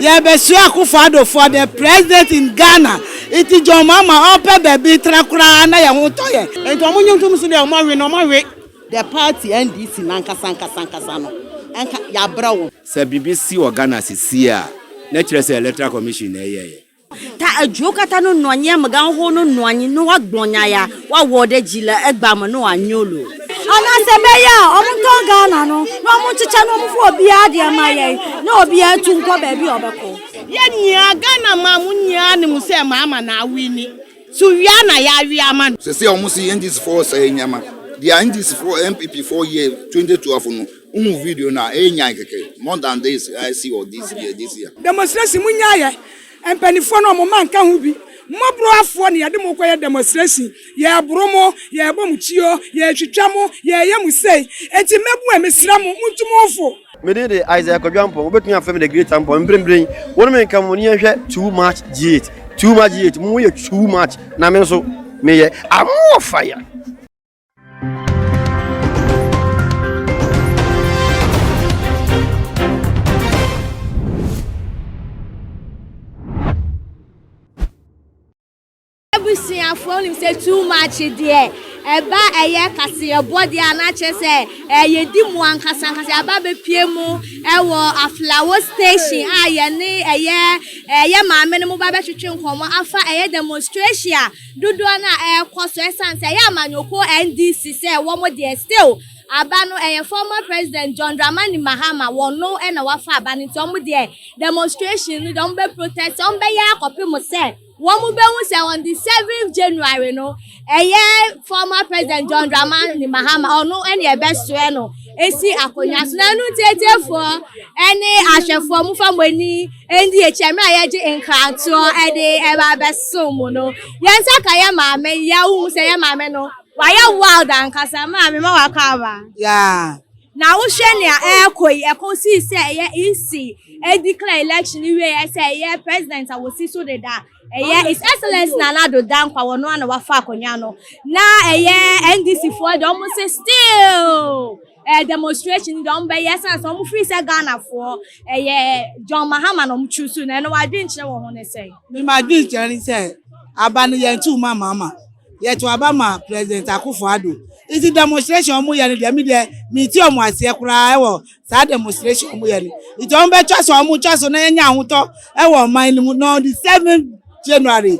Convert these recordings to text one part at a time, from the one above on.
Yɛrebɛsua Akuffo Addo for the president in Ghana nti John Mahama ɔpɛ baabi tra koraa na yɛn ho tɔ yɛn. Nti ɔmo nye ntom so dɛ ɔmo awe no ɔmo awe. The party NDC no ankasa ankasa ankasa no nka yɛabrɛ wɔn. Sɛ biribi si wɔ Ghana sesie a na ɛkyerɛ sɛ electoral commission na ɛyɛeɛ. Ta edjuwo kata no nɔanyi, amɛgan xoxo no nɔanyi, no wa gblɔ nya ya wa wɔ ɖe dji le egba me no wa nyo lo. Anase be ya ɔmu tɔ Ghana no ne ɔmu tsitsa ne ɔmu fɔ obia deɛ ma yɛn ne obia etu nkɔ baabi a ɔbɛkɔ. Yɛn nyinaa Ghana man mu nyinaa nim sɛ Mahama na awini. So wia na yɛawe ama no? Sɛsɛ ɔmo se NDC foɔ sɛɛ nneɛma. Deɛ NDC foɔ, NPP foɔ yɛɛ 2012 no, Wohu video no a, ɛrenyan kɛkɛ. More than this, I see all this year, this year. Demonstration mu nyaayɛ mpaninfoɔ no ɔmo mma nka ho bi mmɔborowafoɔ na yɛde mo kɔyɛ demonstration yɛɛboro mo yɛɛbɔ mo tuo yɛɛtwitwa mo yɛɛyɛ mo sei enti mmɛbun a mesrɛ mo montu mo mfo. Me din de Isaiah Kwadwo Ampong, wobɛtumi afrɛ me The Great Ampong, mprempren wo ne me nka mu ne yɛnhwɛ Too Much G8, Too Much G8, mo yɛ too much na me nso meyɛ, I'm more fire. abusuafoɔ nim sɛ too much deɛ ɛba ɛyɛ kaseɛbɔ deɛ anakyɛ sɛ ɛyɛ di mu ankasa ankasa aba bɛpie mu ɛwɔ aflawo station a yɛne ɛyɛ ɛyɛ maame no mo ba bɛtwetwe nkɔmmɔ afa ɛyɛ demonstration a dodoɔ no a ɛrekɔ so ɛsiane sɛ ɛyɛ amanyɔkuo NDC sɛ wɔn deɛ still aba no ɛyɛ former president John Dramani Mahama wɔn no na wafa aba no nti wɔn deɛ demonstration no deɛ wɔn bɛ protest wɔn bɛyɛ akɔpem sɛ wɔn bɛhu sɛ on the 7th January no ɛyɛ former president John Dramani Mahama ɔno ɛna ɛbɛsoɛ no esi akonnwa so na ɛno ntiatiefoɔ ɛne ahwɛfoɔ mo fa mo ani Ɛnde ɛkyɛ mmerɛ a yɛgye nkratoɔ de ɛba abɛso mu no yɛn nsa ka yɛ maame yɛ wohu sɛ yɛ maame no wayɛ wild ankasa maame ma wakɔ aba yeah. na wohwɛ nea ɛrekɔ yi ɛkɔ sii sɛ ɛyɛ EC ɛdeclare election wie yɛ sɛ ɛyɛ president a wɔsi so deda ɛyɛ his excellence na Nana Addo Dankwa wɔn ano wafa akonnwa no na ɛyɛ NDC foɔ deɛ wɔn se still Ɛyɛ demonstration deɛ wɔn bɛyɛ ɛsan sɛ wɔn firi sɛ Ghana foɔ ɛyɛ John Mahama na wɔn choose na ɛno wɔn adwenkyerɛ wɔ ho ne sɛ. Me ma adwenkyerɛ ne sɛ aba no yɛn to ma Mahama yɛ to aba ma President Akufo Addo nti demonstration wɔn yɛ no deɛ me deɛ me ti wɔn aseɛ koraa ɛwɔ saa demonstration wɔn yɛ no nti wɔn bɛ twa so wɔn twa so na yɛn nya ahotɔ ɛwɔ ɔman no mu na on the seven January.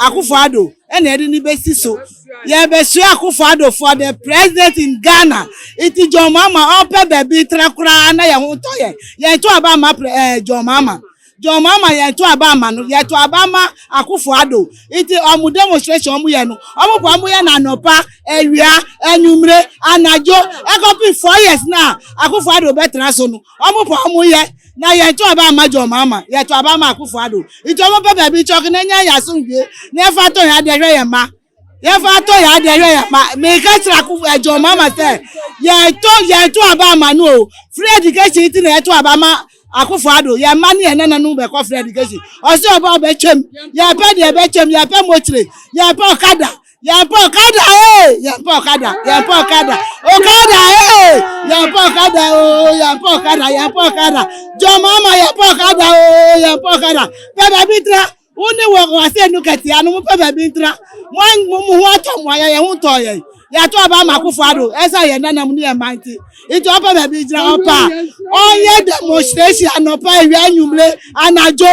Akufo-Addo na yɛde no bɛsi so. Yɛrebɛsua Akufo-Addo for the president in Ghana. Nti John Mahama ɔpɛ baabi tra koraa na yɛn ho tɔ yɛn. Yɛn to aba ama eh, John Mahama. John Mahama yɛn to aba ama no. Yɛn to aba ama Akufo-Addo. Nti wɔn demonstration wɔn yɛ no, wɔn kɔ wɔn yɛ no anɔpa, awia, anwummere, anadwo, ɛkɔpem four years na Akufo-Addo bɛtra so no. Ɔmo pɛ ɔmo yɛ na yɛ to aba ma John Mahama yɛ to aba ma Akufo Addo nti ɔmo pɛ baabi kyɔk na nya yɛ asomdwie na yɛ fa tɔ yɛ adeɛ hwɛ yɛ mma yɛ fa tɔ yɛ adeɛ hwɛ yɛ mma me ka kyerɛ Akufo eh, John Mahama sɛ yɛ to yɛ to aba ma no o free education ti na yɛ to aba ma Akufo Addo yɛ mma ne yɛ nana no bɛkɔ free education ɔsɛ ɔba ɔbɛtwam yɛ pɛ deɛ ɛbɛtwam yɛ pɛ mokyere yɛ pɛ ɔkada Yɛn pɛ ɔkada ee, yɛn pɛ ɔkada, yɛn pɛ ɔkada, ɔkada ee, yɛn pɛ ɔkada oo, yɛn pɛ ɔkada, yɛn pɛ ɔkada, jɔnmaama yɛn pɛ ɔkada oo, yɛn pɛ ɔkada, pɛ baabi ntra, wo ne wɔ wɔasɛ nu kɛtɛ ano, mo pɛ baabi ntra, mo an mo mo ho atɔ mo ayɛ yɛn ho tɔ yɛn, yɛato aba ama akofo ado, ɛsɛ yɛn nanam ne yɛn mma nti, nti ɔpɛ baabi ntra ɔpɛ a, ɔnyɛ demonstration anɔpa awia anwummere anadwo.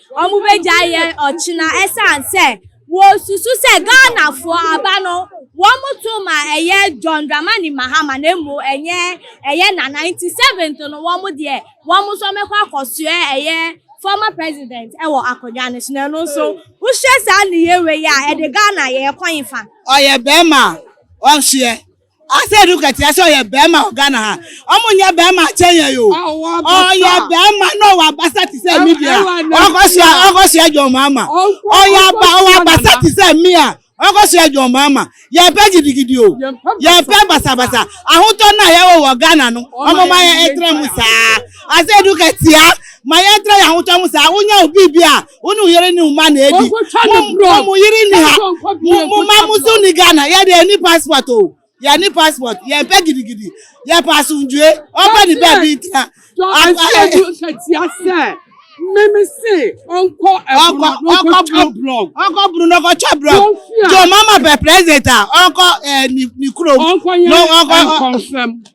wɔbɛgyae yɛn ɔkyena ɛsiane sɛ wɔsusu sɛ Ghanafoɔ aba no wɔto ma ɛyɛ John Dramani Mahama na mmom ɛnyɛ ɛyɛ Nana nti seventh no wɔn deɛ wɔn nso wɔbɛkɔ akɔsoɛ ɛyɛ former president wɔ akonnwa no so na ɛno nso wohwɛ saa nneyɛɛ wei a ɛde Ghana yɛn kwan fa? Ɔyɛ bɛɛma a ɔnsoɛ Ase no kɛkyerɛ sɛ ɔyɛ bɛɛma wɔ Ghana ha. Ɔmo nyɛ bɛɛma akyɛ yɛn o. Ɔyɛ bɛɛma na ɔwɔ abasa te sɛ me deɛ a. Ɔkɔ soa ɔkɔ soa John Mahama. Ɔyɛ aba ɔwɔ abasa te sɛ me a ɔkɔ soa John Mahama. Yɛn pɛ gidigidi o. Yɛn pɛ basabasa. Ahotɔ no a yɛ wɔ wɔ Ghana no ɔmo ma yɛ ɛtra mu saa. Ase no kɛkyea ma yɛ tra yɛ ahotɔ mu saa. Wo nya obi bi a. wo ne wo yere ne wo mma na edi wɔn mo yere ni ha mo mma mo so ni ghana yɛ de yɛ ni passport o yɛ ni passport yɛ mpɛ gidigidi yɛ pa asundue ɔbɛ ni bɛɛ bi ntina. ahyɛnju nkatia sɛ mímí sè ɔnkɔ ɛbùrù ɔnkɔ twa blɔg ɔnkɔ bùrù n'ɔkɔ twa blɔg jɔ mama bɛ president a ɔnkɔ ɛ ni kuro ɔnkɔ yɛ nkɔnfɛm.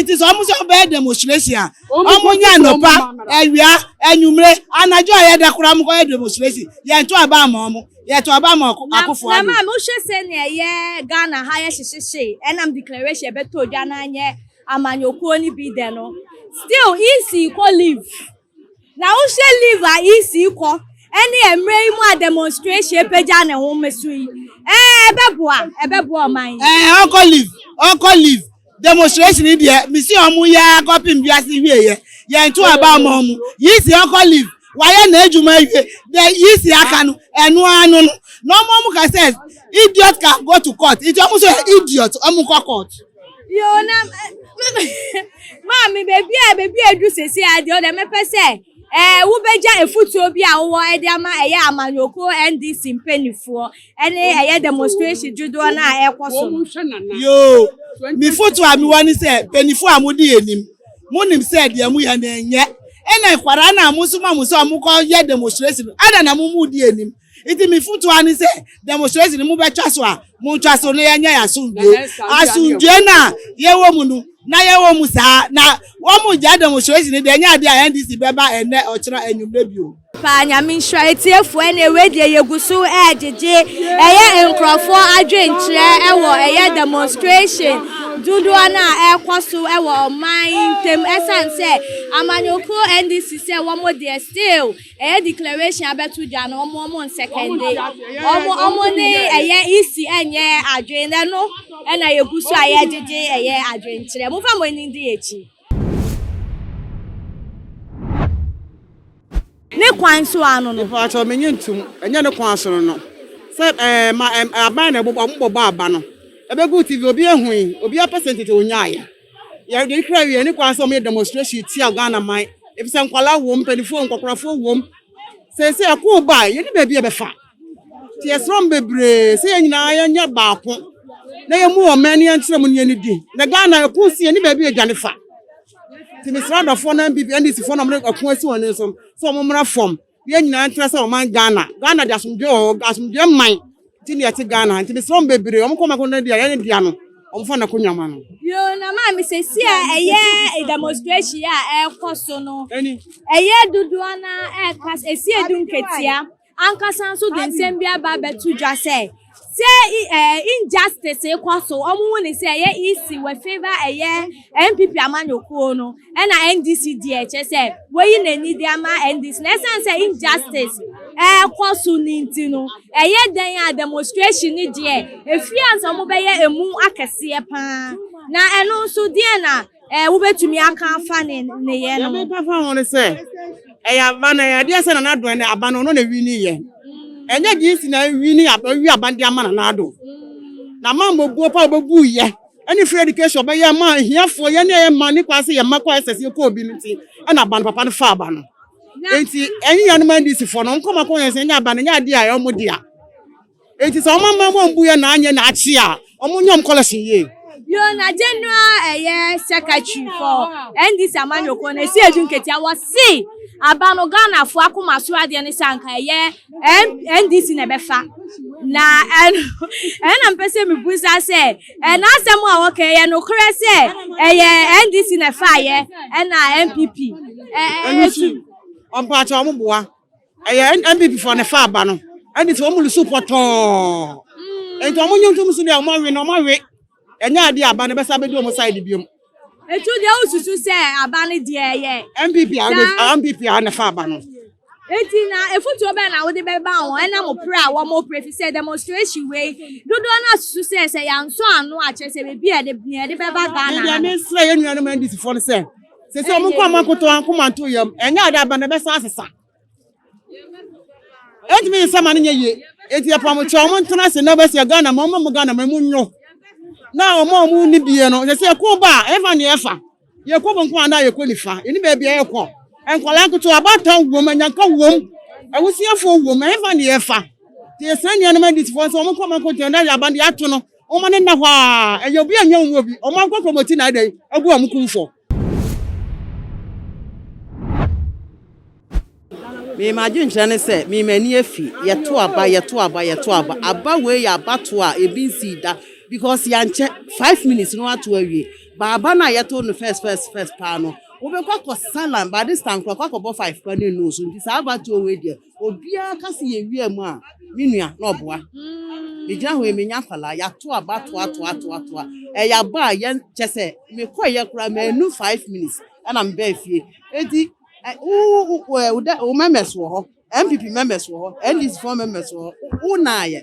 nti sɛ ɔmo sɛ ɔbɛyɛ demonstration a ɔmo nya anɔpa awia anwumire anadwo a yɛda koraa ɔmo kɔyɛ demonstration yɛn to aba ama ɔmo yɛ to aba ama akofo ado. na maa mi wohwɛ sɛ nea ɛyɛ ghana ha yɛ hyehyehye ɛnam declaration ɛbɛtɔ dwa na anyɛ amanyɔkuo no bi dɛ no still ec kɔ leave. Na wohwɛ leave a EC kɔ ɛne mmerɛ yi mu a demonstration apagya ne ho mmeso yi ɛɛ ɛbɛboa ɛbɛboa ɔman yi. Ɛɛ ɔkɔ leave ɔkɔ leave demonstration yi deɛ mesi ɔmo yɛ akɔpem wiase hwie yɛ yɛn to aba ama ɔmo EC ɔkɔ leave wayɛ n'adwuma awie deɛ EC aka no ɛno ano no na ɔmo ɔmo ka sɛ idiot can go to court nti ɔmo nso yɛ idiot ɔmo nkɔ court. Yo na maame baabi a baabi a edu sese a deɛ ɔdɛ mɛpɛ sɛ ɛɛ wobɛgya efutuo bi a wowɔ ɛde ama ɛyɛ amanyɔkuo NDC mpanimfoɔ ɛne ɛyɛ demonstration dodoɔ no a ɛkɔ so. Yoo mi foto a mi wɔ ne sɛ mpanimfoɔ a mo di anim mo nim sɛ deɛ mo yɛ na ɛnyɛ ɛna nkwadaa na mo nso ma mo sɛ ɔmo kɔ yɛ demonstration ada na mo mu di anim nti me futu ani sɛ demonstration no mobɛtwa so a montwa so na yɛnyɛ yɛ asomdwe asomdwe no a yɛwɔ mu no na yɛwɔ mu saa na wɔn gya demonstration no deɛ ɛnyɛ adeɛ a ndc bɛba ɛnɛ ɔkyena anwummerɛ bio paa nyame nhyira etiefo ɛna ewe deɛ yɛgu so ɛɛgyegye ɛyɛ nkurɔfoɔ adwenkyerɛ ɛwɔ ɛyɛ demonstration dodoɔ no a ɛrekɔ so ɛwɔ ɔman ntam ɛsan sɛ amanyɔkuo ndc sɛ wɔn deɛ still Ɛyɛ declaration abɛto dwa no ɔmo ɔmo nsɛkɛnde ɔmo ɔmo ne ɛyɛ isi ɛnyɛ adwene na ɛno ɛna yɛgu so a yɛgyegye ɛyɛ adwenkyerɛ mofa mo ani di akyi. Ne kwan so ano no. Mpakyɛw me nye ntom ɛnyɛ ne kwan so no no sɛ ɛɛ ma ɛɛ aban na ɛbobɔ ɔmo bɔbɔ aba no ɛbɛgu TV obi ehui obi apɛ sɛ ntete onyaayɛ. Yɛde nhwɛ awie ne kwan sɛ wɔyɛ demonstration tia Ghana man efisɛ nkwadaa wom, mpanimfoɔ, nkɔkorafoɔ wom. Seesei ɛko ba a yɛne baabi ɛbɛfa. Nti yɛsrɛ wɔn bebree sɛ yɛn nyinaa yɛnyɛ baako na yɛmu wɔn mmɛn ne yɛnkyerɛ mu ne yɛn di. Na Ghana ɛko si yɛne baabi ɛdwane fa. Nti mesrɛ adɔfoɔ no NPP, NDCfoɔ na wɔde ɛko asi wɔn ani so sɛ wɔn mmra fam. Yɛn nyinaa ntra sɛ ɔman Ghana. Ghana de asomdwe wɔ hɔ. Asomdwe man ti ne ɛte Ghana. Nti mesrɛ wɔn bebree wɔn kɔ mako no deɛ yɛn dea no wɔn fa na kɔ nyama no. Yoo na maame sɛsi a ɛyɛ demonstration a ɛkɔ so no ɛyɛ dodoɔ na ɛka ɛsi edu nketea ankasa nso de nsɛm bi aba abɛto dwa sɛ Sɛ injustice rekɔ so, wɔn hu ne sɛ ɛyɛ EC wɔ favor ɛyɛ NPP amanyɔkuo no ɛna NDC deɛ kyɛ sɛ wɔyi n'ani de ama NDC na ɛsan sɛ injustice ɛrekɔ so ne nti no ɛyɛ dɛn a demonstration ne deɛ efie ansa wɔn bɛyɛ emu akɛseɛ paa na ɛno nso deɛ na Ɛɛ, wobɛtumi aka afa ne nneyɛɛ no ho. Deɛ meka fa ho ne sɛ, ɛyɛ aba no, ɛyɛ adeɛ sɛ Nana Addo ɛnɛ, aba no ɔno na ɛwini yɛ. Ɛnyɛ DC na ɛwini aba, ɛwi aba de ama Nana Addo. Na ma mmɔbuo pa ɔbɛbu yɛ, ɛne free education ɔbɛyɛ ma ahiafoɔ, yɛn ne yɛ ma ne kwan sɛ yɛ ma kɔ SS yɛ kɔ obi no nti, ɛna aba no papa no fa aba no. Nti, ɛnyɛ yɛn ma NDC foɔ no, nkɔma kɔ yɛn sɛ ɛnyɛ aba no, ɛnyɛ adeɛ a ɛyɛ ɔmo dea. Enti sɛ wɔn amammerɛ wɔn mbuiɛ na anyɛ na akye a, wɔn nyɛ wɔn collection yie. Bio na General ɛyɛ secretary for NDC amanyɔkuo no ɛsi edu nketewa wɔ se aba no Ghana foɔ akoma so adeɛ ne sɛ anka ɛyɛ NDC na ɛbɛfa na ɛno ɛno na mpɛ sɛ mebusa sɛ ɛna asɛm a wɔka ɛyɛ nokorɛ sɛ ɛyɛ NDC na ɛfaeɛ ɛna NPP ɛɛ ɛtu. Mpakyɛ wɔn boa. Ɛyɛ NPP foɔ ne fa aba no. Ɛne sɛ wɔn lusu pɔtɔɔ. Nti wɔn nyɛ ntom so deɛ wɔn awe no wɔn awe. Ɛnyɛ adeɛ aba no bɛsa bɛdi wɔn side biom. Nti wo deɛ wo susu sɛ aba no deɛ ɛyɛ. NPP a wɔde NPP a ne fa aba no. Nti na efutuo bɛn na wode bɛba wɔn ɛnam opre a wɔn opre fi sɛ demonstration wei dodoɔ no asusu sɛ sɛ yansɔ ano a kyerɛ sɛ baabi a yɛde yɛde bɛba Ghana ha no. Deɛ mesrɛ yɛn nuanom NDC foɔ no sɛ. Sɛ sɛ ɔmo nkɔ ama nkoto anko ma nto yam ɛnyɛ ade aba na ɛbɛsan asesa. Ɛntumi yɛ sɛ ma no nyɛ yie. Eti ɛpam kyɛ ɔmo ntena ase na bɛsi Ghana ma ɔmo mo Ghana ma emu nyo. Na ɔmo a ɔmo ni bie no sɛ sɛ ɛko ba a ɛfa ne ɛfa. Yɛkɔ benkum anaa yɛkɔ nifa. Yɛni baabi a yɛkɔ. Nkwadaa nketewa abaatan wom anyanka wom. Awusiafoɔ wom ɛfa ne ɛfa. Te yɛsrɛ nuanom adisifoɔ sɛ ɔmo nkɔ ama nkoto na yɛ aba no yɛato no. Wɔma no nna hɔ ara. Ɛyɛ obi a ɛnyɛ wɔn mu obi. Wɔn ankɔ kurom ti na ayɛ dɛn abu wɔn kumfɔ. Me m'adwenkyerɛ ne sɛ me m'ani afi. Yɛto aba, yɛto aba, yɛto aba. Aba wei yɛ abatoɔ a ebi nsii da because yankyɛ five minutes na wɔato awie. But aba no a yɛto no first first first paa no, wobɛkɔ akɔsa line. By this time koraa, kɔ akɔbɔ five koraa na nnɔɔso. Nti saa abatoɔ wei deɛ, Obiara ka sɛ yɛwia mu a, me nua, na ɔboa. Megyina hɔ yi, menya nkwadaa, yɛato aba toa toa toa toa. Ɛyɛ aba a yɛn kyɛ sɛ mekɔeɛ koraa mannu five minutes ɛna mebaa fie. Eti wo wo wo dɛ wo members wɔ hɔ, NPP members wɔ hɔ, NDC foɔ members wɔ hɔ, wo nnaayɛ,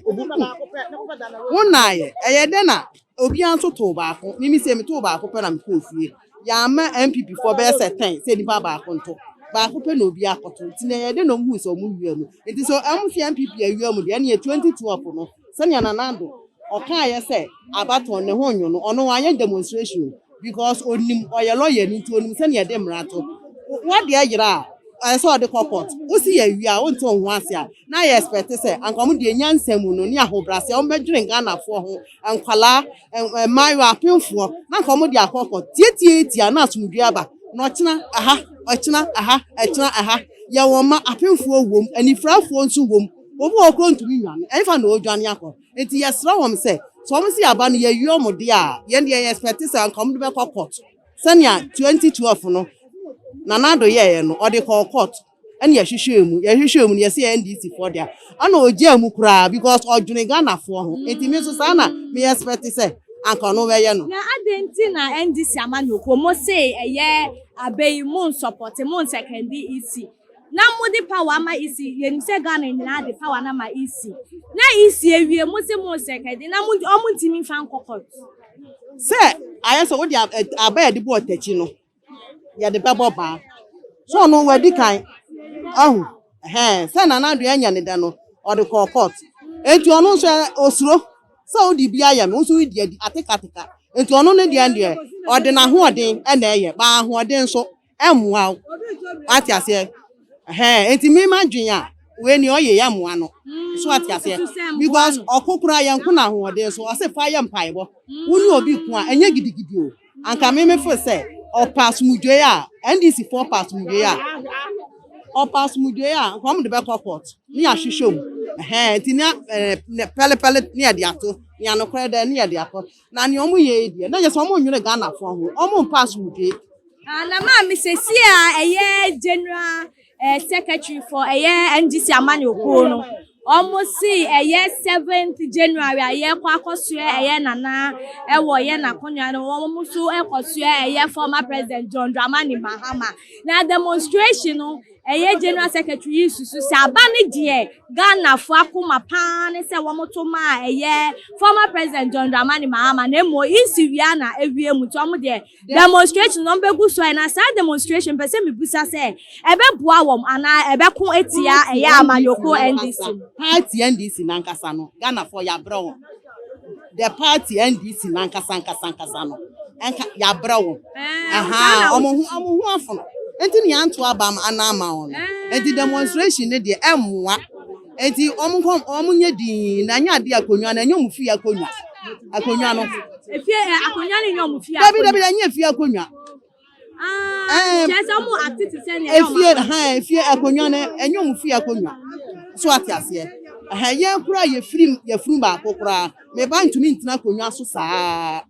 wo nnaayɛ, ɛyɛ dɛn na Obiara nso too baako. Mimi se metoo baako pɛ na mekɔɔ fie. Yɛamma NPP foɔ bɛyɛ sɛ ten sɛ nipa baako nto. Baako pɛ na obiara akɔto. Nti neɛ yɛde no huu sɛ ɔmo wia mu. Nti sɛ ɔmo se NPP awia mu deɛ ɛneɛ 2012 no sɛnea Nana Addo ɔkaeɛ sɛ Abattoir ne ho nyo no ɔno wanyɛ demonstration o because onim ɔyɛ lɔyani nti onim sɛnea yɛde mmara to. Wadeɛ yera a ɛsɛ sɛ ɔde kɔ court. Wosi yɛawia a wonte wo ho ase a na yɛ expect sɛ anka ɔmo deɛ nyansa mu no ne ahobraseɛ ɔmo bɛdwene Ghanafoɔ ho nkwadaa, mmaayewa, apemfoɔ, na anka wɔde akɔkɔ tiatiatia na asomdwoeɛ aba, na ɔkyena ɛha, ɔkyena ɛha, ɛkyena ɛha. Yɛ wɔn mma, apemfoɔ wom, anifirafoɔ nso wom, obi wɔ hɔ koraa a ɔntumi nnwane, ɛhefa na ɔredwane akɔ? Enti yɛsrɛ wɔn sɛ, sɛ wɔn se yɛaba no yɛawie wɔn deɛ a, yɛn deɛ yɛ expect sɛ anka wɔde bɛkɔ kɔɔto sɛnea 2012 no Nana Addo yɛeɛ no, ɔde kɔɔ kɔɔto. ɛna yɛhwehwɛɛ mu yɛhwehwɛɛ mu no yɛsɛ yɛ ndc foɔ deɛ ɛna ɔgyaa mu koraa because ɔdwene ghanafoɔ ho nti me nso saa na me expect sɛ anka ɔno bɛyɛ no. na adɛn nti na ndc ama no kɔ mo se ɛyɛ abɛ yi mo nsɔpɔte mo nsɛkɛnde ec na mo de power ama ec yɛnim sɛ ghana nyinaa de power no ama ec na ec awie mo se mo nsɛkɛnde na mo ɔmo ntumi mfa nkɔ court. sɛ ayɛ sɛ wode aba yɛde bɔɔ takyi no yɛde bɛbɔ baa so ɔno wadi kan ahu hɛn sɛ na n'adwen anya ne dɛ no ɔde kɔɔ court enti ɔno nso osuro sɛ wode bi ayɛ me wo nso wodi adi atekateka enti ɔno ne deɛ deɛ ɔde n'ahoɔden na ɛyɛ ba ahoɔden nso ɛmmoa wo ate aseɛ hɛn enti me m'adwen a wei ni ɔyɛ yɛ mmoa no so ate aseɛ because ɔko koraa yɛnko n'ahoɔden so ɔse fa yɛ mpaebɔ wo ne obi ko a ɛnyɛ gidigidi o Anka me me fo sɛ ɔpɛ asomdwoe a NDC fo ɔpɛ asomdwoe a ɔpɛ asomdwoe a nka wɔn de bɛkɔ court ne yɛahwehwɛ mu ɛhɛn nti nea ɛɛ ne pɛlepɛle ne yɛde ato nea nokorɛ dɛ ne yɛde akɔ na nea wɔn yɛ yi deɛ na yɛ sɛ wɔn nwene Ghanafoɔ ho wɔn mpɛ asomdwoe. Ah, na maame sesie a ɛyɛ general Eh, secretary for ɛyɛ eh, NGC amanyɔ kuo no wɔn si ɛyɛ eh, seventh January a yɛkɔ akɔsoɛ ɛyɛ eh, nana ɛwɔ eh, yɛ n'akonnwa no wɔn nso ɛkɔsoɛ ɛyɛ former president John Dramani Mahama na demonstration no ɛyɛ general secretary yi susu sɛ aba ne deɛ ghanafoɔ akoma paa ne sɛ wɔto maa ɛyɛ former president john dramani mahama na mmom nsi wia na awie mu nti wɔn deɛ Demonstration na wɔbɛgu so ayɛ, na saa demonstration mpɛ sɛ mebisa sɛ ɛbɛboa wɔn anaa ɛbɛko atia ɛyɛ amanyɔkuo NDC no. Party NDC nankasa no Ghanafoɔ yɛabrɛ wɔn, the party NDC nankasa nkasa nkasa no nka yɛabrɛ wɔn, ahaa wɔn ho wɔn ho afono nti na yɛanto aba ama anaa ama wɔn no, nti demonstration no deɛ ɛmmoa. Enti wɔnkɔ, wɔnyɛ dinn, na ɛnyɛ adeɛ akonnwa no, ɛnyɛ wɔn fie akonnwa. Akonnwa no. Efie ɛ akonnwa no nyɛ wɔn fie akonnwa. Dabi dabi ɛnyɛ efie akonnwa. Ɛɛ kyerɛ sɛ wɔn ate te sɛ nea ɛyɛ wɔn akonnwa. Efie ɛhɛn efie akonnwa no ɛnyɛ wɔn fie akonnwa. So ate aseɛ. Ɛhɛn yɛn koraa yɛfiri yɛfunu baako koraa meba ntumi ntena akonnwa so saa.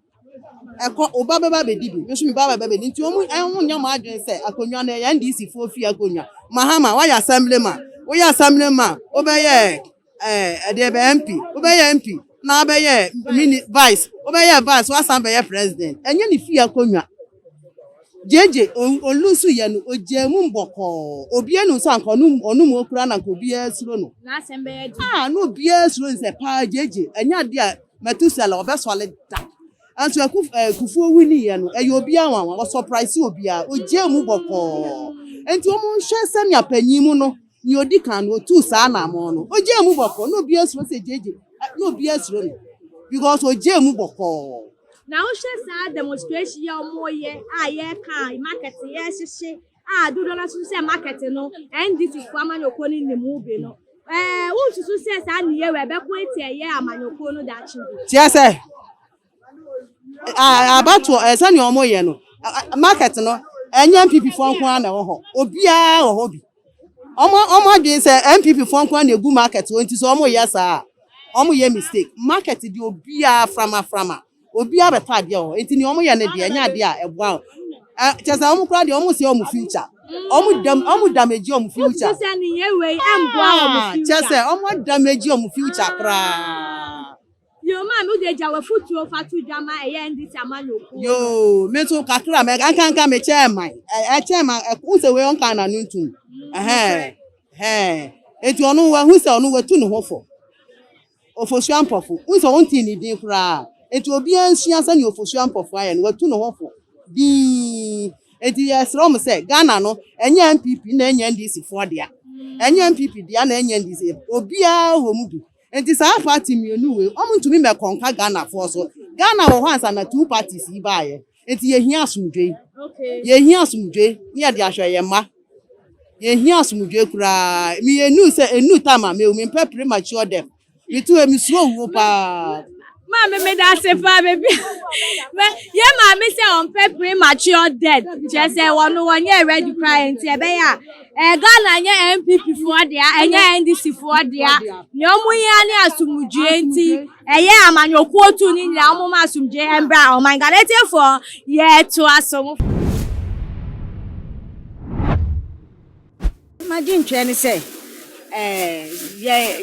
ɛkɔ wo ba bɛba bɛdi bi nso mi ba bɛba bɛdi nti wɔn ɛho nyɛ wɔn adwene sɛ akonnwa no ɛyɛ ndc foɔ fi akonnwa mahama wayɛ assembly ma woyɛ assembly ma wobɛyɛ ɛɛ ɛdeɛ bɛ mp wobɛyɛ mp na wabɛyɛ mini vice wobɛyɛ vice wasan bɛyɛ president ɛnyɛ ne fi akonnwa. JJ olu nso yɛ no ogyaa mu bɔkɔɔ obiara nim sɛ anka ɔno ɔno mu okura na anka obiara suro no n'asɛm bɛyɛ de ah na obiara suro nsɛ paa JJ ɛnyɛ adeɛ a Metusela ɔbɛsɔre da nso ɛku ɛɛ kufuo wini yɛ no ɛyɛ obiara nwanwa ɔsɔpraise obiara ogyaa mu bɔkɔɔ nti wɔn nhwɛ sɛnea panyin mu no nea odi kan no otuu saa anamɔn no ogyaa mu bɔkɔɔ na obiara suro sɛ JJ na obiara suro no because ogyaa mu bɔkɔɔ. Na wohwɛ saa demonstration yi a wɔn yɛ a yɛka market yɛrehyehye a dodoɔ no nso sɛ market no NDC fo amanyɔkuo no nim mu bi no ɛɛ wonsusu sɛ saa nniyɛ wɔ ɛbɛko eti ɛyɛ amanyɔkuo no daakye bi. Tiɛ sɛ abatoɔ ɛɛ sɛnea wɔn yɛ no market no ɛnyɛ NPP fo nko ara na ɛwɔ hɔ obiara wɔ hɔ bi. Ɔmo ɔmo adwene sɛ NPP foɔ nkoa na egu market hɔ nti sɛ ɔmo yɛ saa a ɔmo yɛ mistake. Market deɛ obiara frama frama. Obiara bɛtɔ adeɛ wɔ hɔ nti nea ɔmo yɛ no deɛ ɛnyɛ adeɛ a ɛboa wɔn. Ɛ kyerɛ sɛ ɔmo koraa deɛ ɔmo sɛɛ ɔmo future. Ɔmo dam ɔmo damage ɔmo future. Haa kyerɛ sɛ ɔmo damage ɔmo future koraa. Yo, maa me wode gya w'afuturo fa to dwa ma ɛyɛ NDC amanyɔkuo no. Yo, me nso kakra mɛ ankanka me kyɛɛ man ɛkyɛɛ man ɛho sɛ wei ɔnka na no ntum ɛhɛn ɛhɛn eti ɔno wahu sɛ ɔno watu ne ho fɔ ofosua mpɔfo n sɛ ɔnti ne din koraa eti obiara nsua sɛ ne ofosua mpɔfo ayɛ no watu ne ho fɔ dii eti yɛsrɛ ɔmo sɛ Ghana no ɛnyɛ NPP na ɛnyɛ NDC foɔ dea ɛnyɛ NPP dea na ɛnyɛ NDC obiara wɔ mu bi Nti saa party mmienu wei wɔn ntumi mɛkɔ nka Ghana foɔ so. Ghana wɔ hɔ ansa na two parties yi baayɛ. Nti yɛ hia asomdwe. Yɛ hia asomdwe ne yɛ de ahwɛ yɛ mma. Yɛ hia asomdwe koraa. Me yɛ nu sɛ enu time a mɛ wu. Me mpɛ premature death. Me tu hɛ me suro wuo paa. Maame meda ase paa beebi a yɛ maame sɛ ɔmpɛ premature death kyerɛ sɛ wɔn wɔnyɛ ready koraa nti ɛbɛyɛ a ɛɛ Ghana nyɛ NPP foɔ dea ɛnyɛ NDC foɔ dea nea wɔn yɛ ne asomdue nti ɛyɛ amanyɔkuo tu ne nyinaa wɔn ma asomdue ɛmbra ɔman Ghana etiefoɔ yɛɛto aso. M'adwenkyerɛ ne sɛ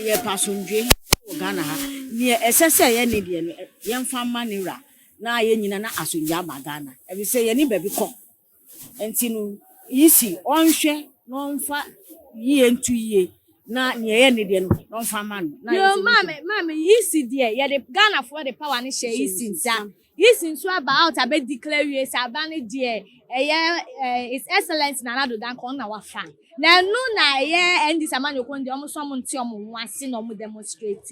yɛpɛ asomdwoe wɔ Ghana ha. Nea ɛsɛ sɛ yɛne deɛ no, yɛmfa mma ne wura na yɛn nyinaa na asomdwoe aba Ghana. Efisɛ yɛne baabi kɔ. Enti no, EC ɔnhwɛ na ɔmfa yie nto yie na nea ɛyɛ ne deɛ no na ɔmfa mma no. Bio, maame, maame, EC deɛ yɛde Ghanafoɔ de power no hyɛɛ EC nsa. His nso aba out abɛ declare wie sɛ aba no deɛ ɛyɛ His Excellence Nana Addo Dankwa ɔno na wafa na ɛno na ɛyɛ NDC amanyɔkuo no deɛ wɔn nso wɔn nte wɔn ho ase na wɔn demonstrate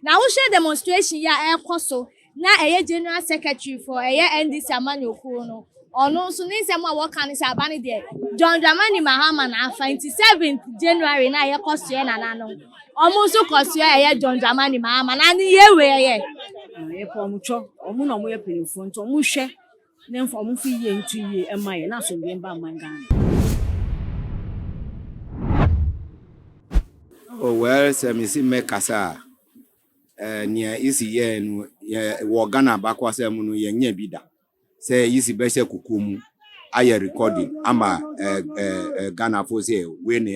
na wohwɛ demonstration yi a ɛrekɔ so na ɛyɛ General Secretary for ɛyɛ NDC amanyɔkuo no Ɔno nso ne nsɛm a wɔka ne sɛ aba no deɛ John Dramani Mahama na afa nti 7th January na yɛkɔ soɛ nana no ɔmo nso kɔ soɛ ɛyɛ John Dramani Mahama na ne yɛ wei ɛyɛ. Yɛpɛ ɔmo twɔ ɔmo na ɔmo yɛ panyinfoɔ nti ɔmo hwɛ ne nfa ɔmo fi yie nto yie ɛma yɛ na asomdwee mba man Ghana. Oh well sɛ me si mɛ kasa a eh, nea isi yɛ no yɛ wɔ Ghana baako asɛm no yɛ nyɛ bi da. sɛ yisi bɛhyɛ koko mu ayɛ recording ama ɛɛ ɛɛ ghanafo sɛ wei na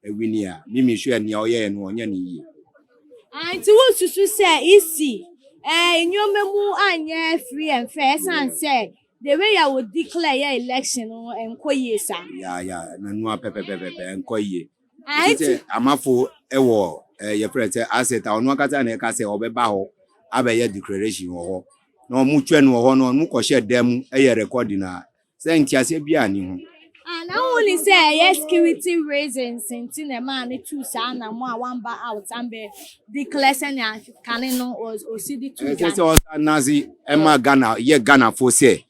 ɛwini a mimi hwɛ nea ɔyɛ no ɔnyɛ ne yie. nti wosusu sɛ isi ɛɛ nneɛma mu anyɛ free and fair ɛsan sɛ the way a wodi clear yɛ election no nkɔ yie saa. ya ya nanu apɛpɛpɛpɛ nkɔ yie. Ɛte sɛ Amafo wɔ yɛfrɛ no sɛ asset a ɔno ankasa na ɛka sɛ ɔbɛba hɔ abɛyɛ declaration wɔ hɔ na ɔmo twɛ no wɔ hɔ na ɔmo kɔhyɛ da mu yɛ recording a sɛ nteaseɛ biaa nni ho. Ah na wo nim sɛ ɛyɛ security reasons nti na ɛmaa no tuu saa anamɔ a wamba out ambɛ declare sɛnea kane no ɔsi de tuu dwane. Ɛsɛ sɛ ɔsa nase ɛma Ghana yɛ Ghana foɔ sɛ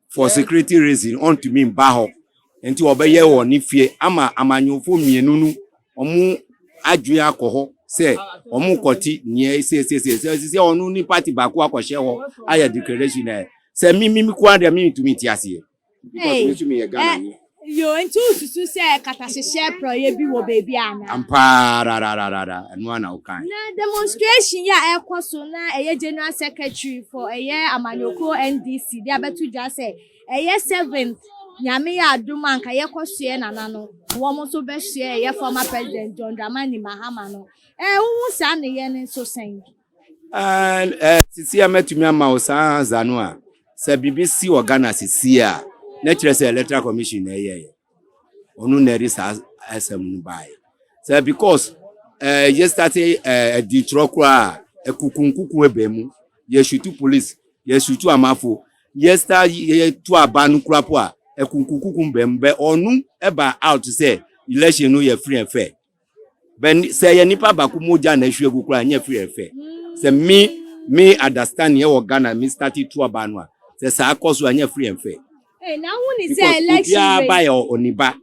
for security reason ɔntumi mba hɔ nti ɔbɛyɛ wɔ ne fie ama amanyɔfoɔ mmienu no ɔmo adwene akɔ hɔ sɛ ɔmo kɔte nea ɛsiesie sɛ sɛ ɔno ne party baako akɔhyɛ hɔ ayɛ declaration ɛ sɛ mimi mikoa deɛ mentumi nte aseɛ because me nso meyɛ Ghana ni. Yoo, enti wususuw sɛ katahyehyɛ porɔeɛ bi wɔ baabi anaa? Ampa ara, rararara, ɛno ara na wokae. Na demonstration yi a ɛrekɔ so na ɛyɛ General Secretary for ɛyɛ amanyɔkuo NDC de abɛto dwa sɛ ɛyɛ seventh Nyame yɛ adom a anka yɛkɔ soɛ Nana no na wɔn nso bɛsoɛ ɛyɛ former President John Dramani Mahama no. Ɛɛ, wohu saa nneyɛɛ no nso sɛn? And eh, sisi a mɛtumi ama wo saa ansa no a sɛ biribi si wɔ Ghana sisi a na kyerɛ sɛ electoral commission na ɛyɛɛ ɔno na ɛde saa asɛm no baeɛ sɛ because eh, yɛstate eh, adi kyerɛ koraa a ɛkukunkuku ɛbɛ mu yɛsutu police yɛsutu amafo yɛsta yɛtu aba no kura po a ɛkunkunkuku bɛ mu bɛ ɔno ɛba out sɛ election no yɛ free and fair sɛ ɛyɛ nipa baako mogya na ɛhwie gu koraa ɛnyɛ firi ɛfɛ sɛ me me understand yɛ wɔ Ghana me start tu ɔbaa no a sɛ saa kɔ so a ɛnyɛ firi ɛfɛ because obiara ba yɛ oniba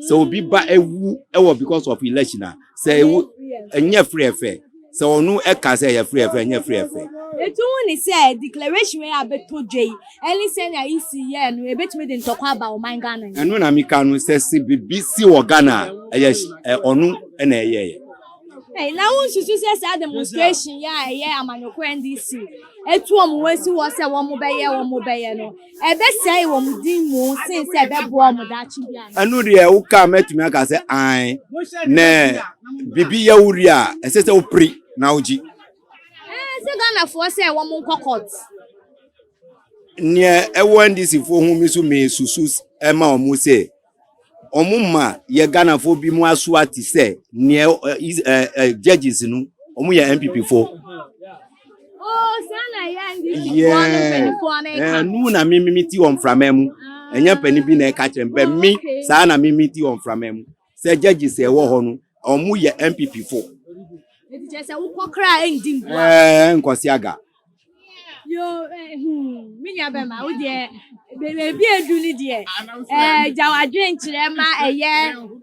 sɛ obi ba ewu ɛwɔ because of election a sɛ ewu ɛnyɛ firi ɛfɛ. Sɛ ɔno ɛka sɛ yɛfrɛ ɛfrɛ nyɛ frɛ ɛfrɛ. Etu ho ne sɛ declaration wei a bɛtɔ dwa yi ɛne sɛnea EC yɛɛ no ɛbɛtumi de ntɔkwa aba ɔman Ghana yi. Ɛno na meka no sɛ se biribi si wɔ Ghana a ɛyɛ ɔno na ɛyɛeɛ. Ei na wonsusu sɛ saa demonstration yi a ɛyɛ amanyɔkuo NDC atu wɔn ho asi hɔ sɛ wɔbɛyɛ wɔbɛyɛ no Ɛbɛsɛe wɔn din mu sen sɛ ɛbɛboa wɔn daakye biara. Ɛno deɛ woka mɛtumi aka sɛ an na biribi yɛ wo wie a ɛsɛ sɛ wopere na wogye. Sɛ Ghanafoɔ sɛ wɔn nkɔ court. Neɛ ɛwɔ NDCfoɔ ho mi so mesusu ɛma wɔn sɛ wɔma yɛ Ghanafoɔ bi mu asoa te sɛ neɛ judges no wɔn yɛ NPP foɔ. ɛnu na mímímí ti wɔn framɛ mu ɛnyɛ panin bi na ɛka kyerɛ mpɛ mi saa na mímí ti wɔn framɛ mu sɛ judges ɛwɔ hɔ no wɔn yɛ NPP foɔ. ɛɛ nkɔsi aga. yo eh, hmm, me nua bɛma wo deɛ baabi edu no deɛ eh, gya wadwen kyerɛ ma ɛyɛ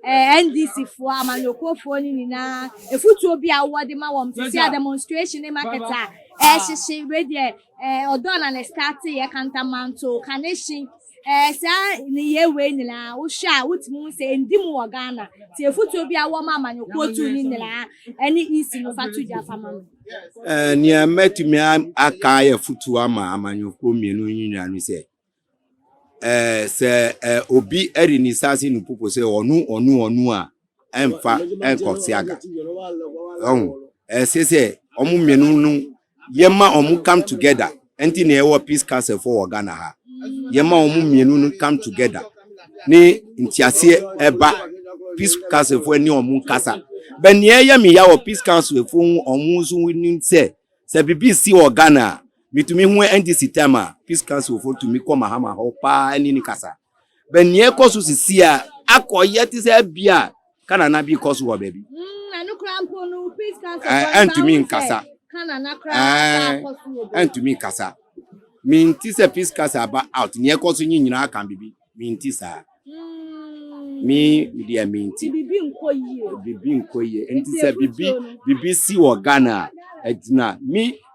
eh, ndc foɔ amanyɔkuofoɔ no nyinaa efutuo bi a wɔde ma wɔn te sɛ a demonstration ne market a ɛrehyehye wei deɛ eh, ɔdɔ na ne start yɛ kantamanto kanehye Ɛɛ saa nneyɛɛ wei nyinaa wohwɛ a wotumi hu sɛ ɛndi mu wɔ Ghana? Ti afotuo bi a wowɔ ma amanyɔkuo tuo no nyinaa ɛne EC no fa to dwa fa ma me. Ɛɛ nea mɛtumi aka ayɛ afotuo ama amanyɔkuo mmienu yi nyinaa no sɛ ɛɛ sɛ ɛɛ obi ɛde ne nsa ase no popo sɛ ɔno ɔno ɔno a ɛmfa ɛnkɔ siaga ɔn ɛsɛ sɛ ɔmo mmienu no yɛma ɔmo come together ɛnti na ɛwɔ peace council fo wɔ Ghana ha yɛma ɔmo mmienu no come together ne ntiaseɛ ɛba peace council fo ɛne ɔmo nkasa bɛ nea ɛyɛ me ya wɔ peace council fo ho ɔmo nso nim sɛ sɛ bibi si wɔ Ghana a metumi ho ɛnti si time a peace council fo tumi kɔ mahama hɔ paa ɛne ne kasa. bɛ nea ɛkɔ so sisi a akɔyɛ te sɛ bi a kanana bi kɔ so wɔ baabi. Ɛntumi nkasa. Ɛntumi nkasa. Minti sɛ peace kasa aba out nea ɛkɔ so nye nyinaa ka bibi minti saa. Me deɛ minti. Bibi nkɔ yie. Bibi nkɔ yie. Nti sɛ bibi bibi si wɔ Ghana a ɛgyina mi.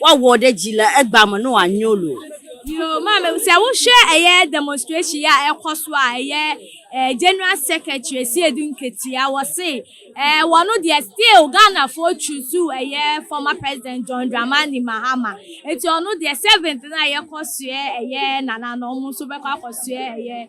Wɔwɔ dɛ gyila ɛgba mo no anyolo. Yoo maame sɛ wohwɛ ɛyɛ demonstration yɛ a ɛkɔ so a ɛyɛ ɛɛ general secretary si edu nketeya wɔse ɛɛ wɔn deɛ still Ghana foɔ choose ɛyɛ former president John Dramani Mahama eti ɔno deɛ seventh na yɛkɔ soɛ ɛyɛ nana no ɔmo nso bɛkɔ akɔ soɛ ɛyɛ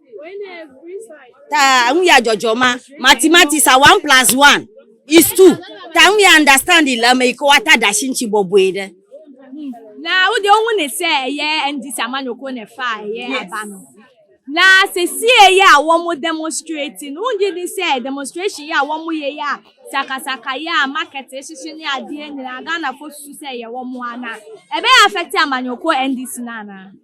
taa ŋun ya jɔjɔ ma mathematics a one plus one is two taa ŋun ya understand ilama yi ka wata dashi nchi bɔbɔe dɛ. na wode ohu ne sɛ ɛyɛ ndc amanyɔkuo na ɛfa a ɛyɛ aba no na sesie yɛ a wɔn demonstrate no wogye di sɛ demonstration yɛ a wɔn yɛ yɛ a sakasaka yɛ a market hyehye ne adeɛ nyinaa ghanafoɔ susu sɛ ɛyɛ wɔn ana ɛbɛyɛ afɛte amanyɔkuo ndc no anaa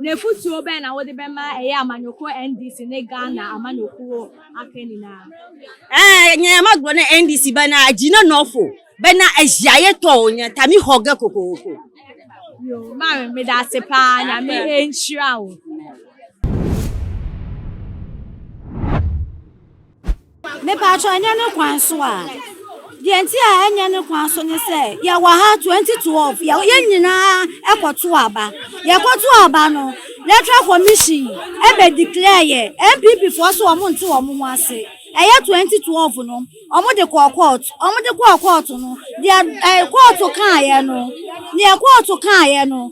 Na afotuo bɛn na wode bɛma ɛyɛ amanyɔkuo NDC ne Ghana amanyɔkuo aka nyinaa? Ɛɛ, nyɛ ɛma gbo ne NDC bɛ na agyina nɔfo bɛ na ahyiaeɛ tɔ nya tami hɔgɛ kokoko. Yoo, Mary meda ase paa, Nyame nhyira wo. Mepatwɔ ɛnyɛ ne kwan so a deɛ nti a ɛnyɛ ne kwan so ne sɛ yɛwɔ ha 2012 yɛn nyinaa ɛkɔto aba yɛkɔto aba no electoral commission ɛbɛ declare yɛ npp foɔ so wɔn nte wɔn ho ase ɛyɛ 2012 no wɔn de kɔɔ court wɔn de kɔɔ court no deɛ ɛɛ court kaa yɛ no deɛ court kaa yɛ no.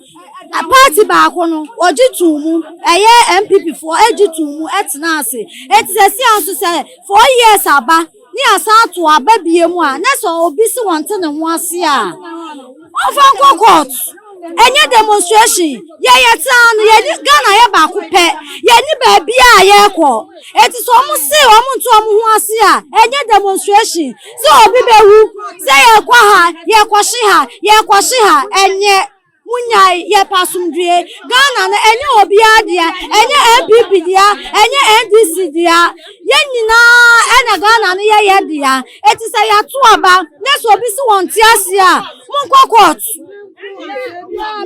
Party baako no wɔgye too mu, ɛyɛ NPP foɔ gye too mu tena ase. Enti sɛsi a nso sɛ four years aba ne yɛasan ato aba bie mu a, na sɛ obi se wɔnte ne ho ase a, wɔmfa nkɔ court. Ɛnyɛ demonstration. Yɛ yɛte ha no, yɛni Ghana yɛ baako pɛ. Yɛni baabi a yɛrekɔ. Enti sɛ wɔn se wɔn nte wɔn ho ase a, ɛnyɛ demonstration. Sɛ obi bɛwu, sɛ yɛrekɔ ha, yɛrekɔhye ha, yɛrekɔhye ha, ɛnyɛ. Munyae yɛpɛ asomdwoe. Ghana no ɛnyɛ obiara dea, ɛnyɛ NPP dea, ɛnyɛ NDC dea. Yɛn nyinaa ɛna Ghana no yɛ yɛ dea. Eti sɛ yɛato aba na sɛ obi si wɔn te ase a, monkɔ court.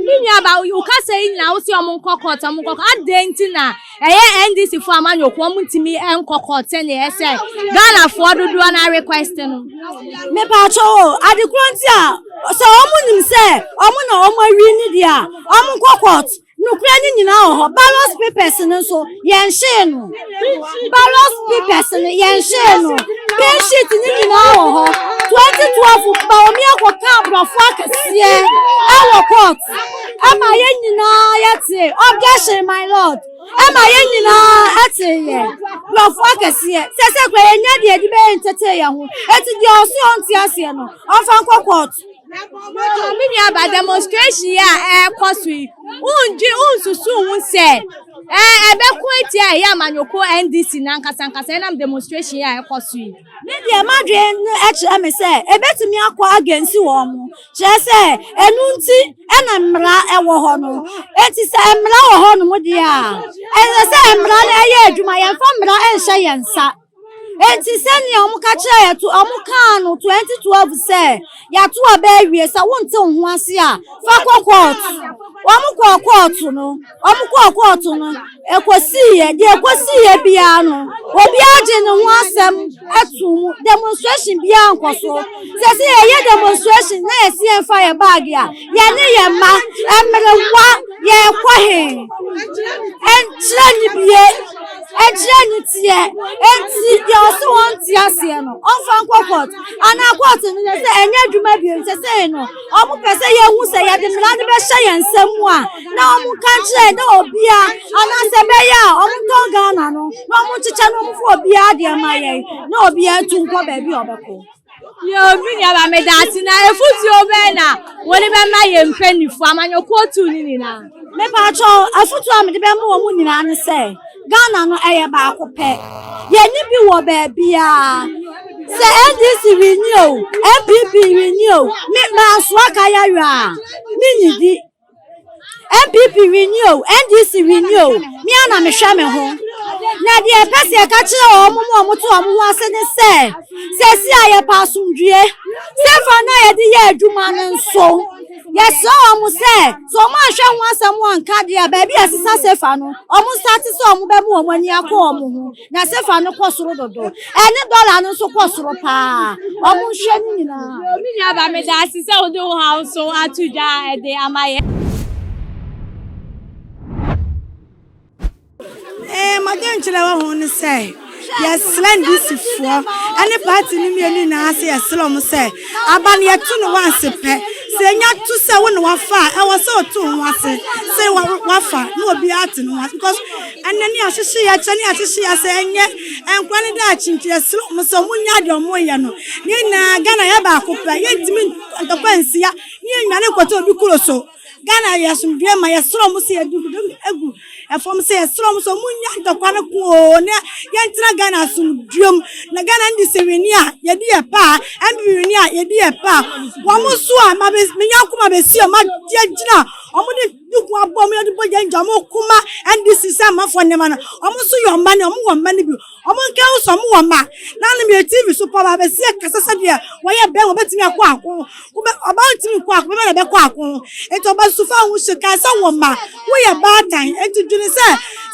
Me nuaba, wo kasa yi nyinaa wo se ɔmo nkɔ court, ɔmo nkɔ court. Adɛn nti na Ɛyɛ NDC foɔ amanyɔ kɔ ɔmo ntumi nkɔ court sɛnea ɛsɛ Ghana foɔ dodoɔ na request no. Me paatɔ o ade koro nti a sɛ ɔmo nim sɛ ɔmo na ɔmo awi ne deɛ a ɔmo nkɔ court nukura ne nyinaa wɔ hɔ ballot papers no nso yɛn hyee no ballot papers no yɛn hyee no pay sheet ne nyinaa wɔ hɔ twenty twelve baomi akɔ ka aborɔfo akɛseɛ ɛwɔ court. ɛma yɛn nyinaa yɛte objection my lord ɛma yɛn nyinaa ɛte yɛ nkurɔfo akɛseɛ sɛ sɛ kura yɛn nya deɛ ɛde bɛyɛ ntete yɛn ho eti deɛ ɔso yɛ ɔnte aseɛ no ɔnfa nkɔ court. me nua ba demonstration yi a ɛrekɔ so yi wondwe wonsusu ho sɛ ɛɛ ɛbɛko atia ɛyɛ amanyɔkuo ndc nankasankasa ɛnam demonstration yi a ɛrekɔ so yi. me deɛ madwene no ɛkyerɛ me sɛ ebetumi akɔ agensi wɔn mo Kyerɛ sɛ, ɛno nti na mmara wɔ hɔ no. Enti sɛ mmara wɔ hɔnom deɛ a, ɛsɛ sɛ mmara no ɛyɛ adwuma. Yɛmfa mmara nhyɛ yɛn nsa. Enti sɛnea wɔka kyerɛ yɛ to, wɔkaa no 2012 sɛ yɛato aba awie, sɛ wonte wo ho ase a, fa kɔ kɔɔto. Wɔkɔɔ kɔɔto no. Wɔn kɔɔ kɔɔto no, ɛkɔsiiɛ deɛ ɛkɔsiiɛ biara no, obiara gye ne ho asɛm to mu. Demonstration biara nkɔ so. Sɛ sɛ yɛyɛ demonstration na yɛsi yɛn fa yɛ baage a, yɛne yɛn mma, mmerewa, yɛrekɔ he? Ɛnkyerɛ ne bie, ɛnkyerɛ ne teɛ. Enti deɛ ɔse wɔn nte aseɛ no, ɔmfa nkɔ court. Anaa court no yɛ sɛ ɛnyɛ adwuma bio, sɛ sɛ no, wɔpɛ sɛ yɛhu sɛ yɛde mmara no bɛhyɛ yɛn nsam mu a. na wɔn nka nkyerɛ na obia anaasɛ ɛbɛyɛ a wɔn ntɔ ghana no na wɔn nkyekyɛ na wɔn fo obia deɛ ma yɛn na obia tu nkɔ baabi a ɔbɛkɔ. yɛobi nuaba meda ase na efutuo bɛɛ na wɔde bɛma yɛn mpanyinfoɔ amanyɔkuo tu ne nyinaa. mepatwɔ afutuo a mede bɛma wɔn nyinaa ne sɛ ghana no ɛyɛ baako pɛ yɛne bi wɔ baabiaa sɛ ndc renyi o npp renyi o me maasoa ka yɛyɔ a menyidi npp wini o ndc wini o me a na mehwɛ me ho na deɛ ɛpɛ sɛ ɛka kyerɛ wɔn mu a wɔte wɔn ho ase ne sɛ sɛsi a yɛpɛ asomdwie sɛfa no a yɛde yɛ adwuma no nso yɛsrɛ wɔn sɛ sɛ wɔn anhwɛ ho asɛm wɔn nka deɛ baabi a ɛsesa sɛfa no wɔn nsa ase sɛ wɔn bɛma wɔn ani akɔ wɔn ho. Na sefa no kɔ soro dodo. Ɛne dɔla no nso kɔ soro paa. Wɔn nhwɛ no nyinaa. Me nua ba meda ase sɛ wode wo haw so ato dwa de ama yɛ. Ee, m'adwenkyerɛ wɔ ho ne sɛ yɛsrɛ ndisifoɔ ne party no mmienu nyinaa sɛ yɛsrɛ wɔn sɛ aba no yɛto no wanse pɛ. Sɛ enya to sɛ wo na wafa a, ɛwɔ sɛ ɔto ho ase sɛ wafa na obiara te ne ho ase because Ɛnnɛ ne yɛahwehwe yɛ kyɛ ne yɛahwehwe yɛ sɛ ɛnyɛ nkora ne daakye nti yɛsrɛ wɔn sɛ wɔn nya deɛ wɔn yɛ no ne nyinaa Ghana yɛ baako pɛ yɛntumi ntɔkwa nsia ne yɛ nyane nkɔtɔ obi kuro so Ghana yɛ asomdue ma yɛsrɛ wɔn sɛ yɛde kudo egu ɛfam sɛ yɛsrɛ wɔn sɛ wɔn nya ntɔkwa no koo ne yɛntena Ghana asomduem na Ghana ndi sɛ wini a yɛdi yɛ paa ɛmbi wini a yɛdi yɛ paa wɔn so a ma bɛ menya koma bɛ si wɔn agyina wɔn de ne kun abɔ mu yɛde bɔ yɛn gya wɔn kuma ndc sɛ amafo nneɛma no wɔn nso yɛ ɔma ne wɔn wɔ mma no bi wɔn nka ho sɛ wɔn wɔ mma na anam yɛ tv so pɔba abɛsi ɛkasa sɛ deɛ wɔyɛ bɛn wɔn bɛtumi akɔ ako wɔbɛ ɔba ntumi nkɔ ako bɛma na ɛbɛkɔ ako nti ɔba sufa ho hyɛ kan sɛ wɔn mma wɔyɛ baatan nti dwene sɛ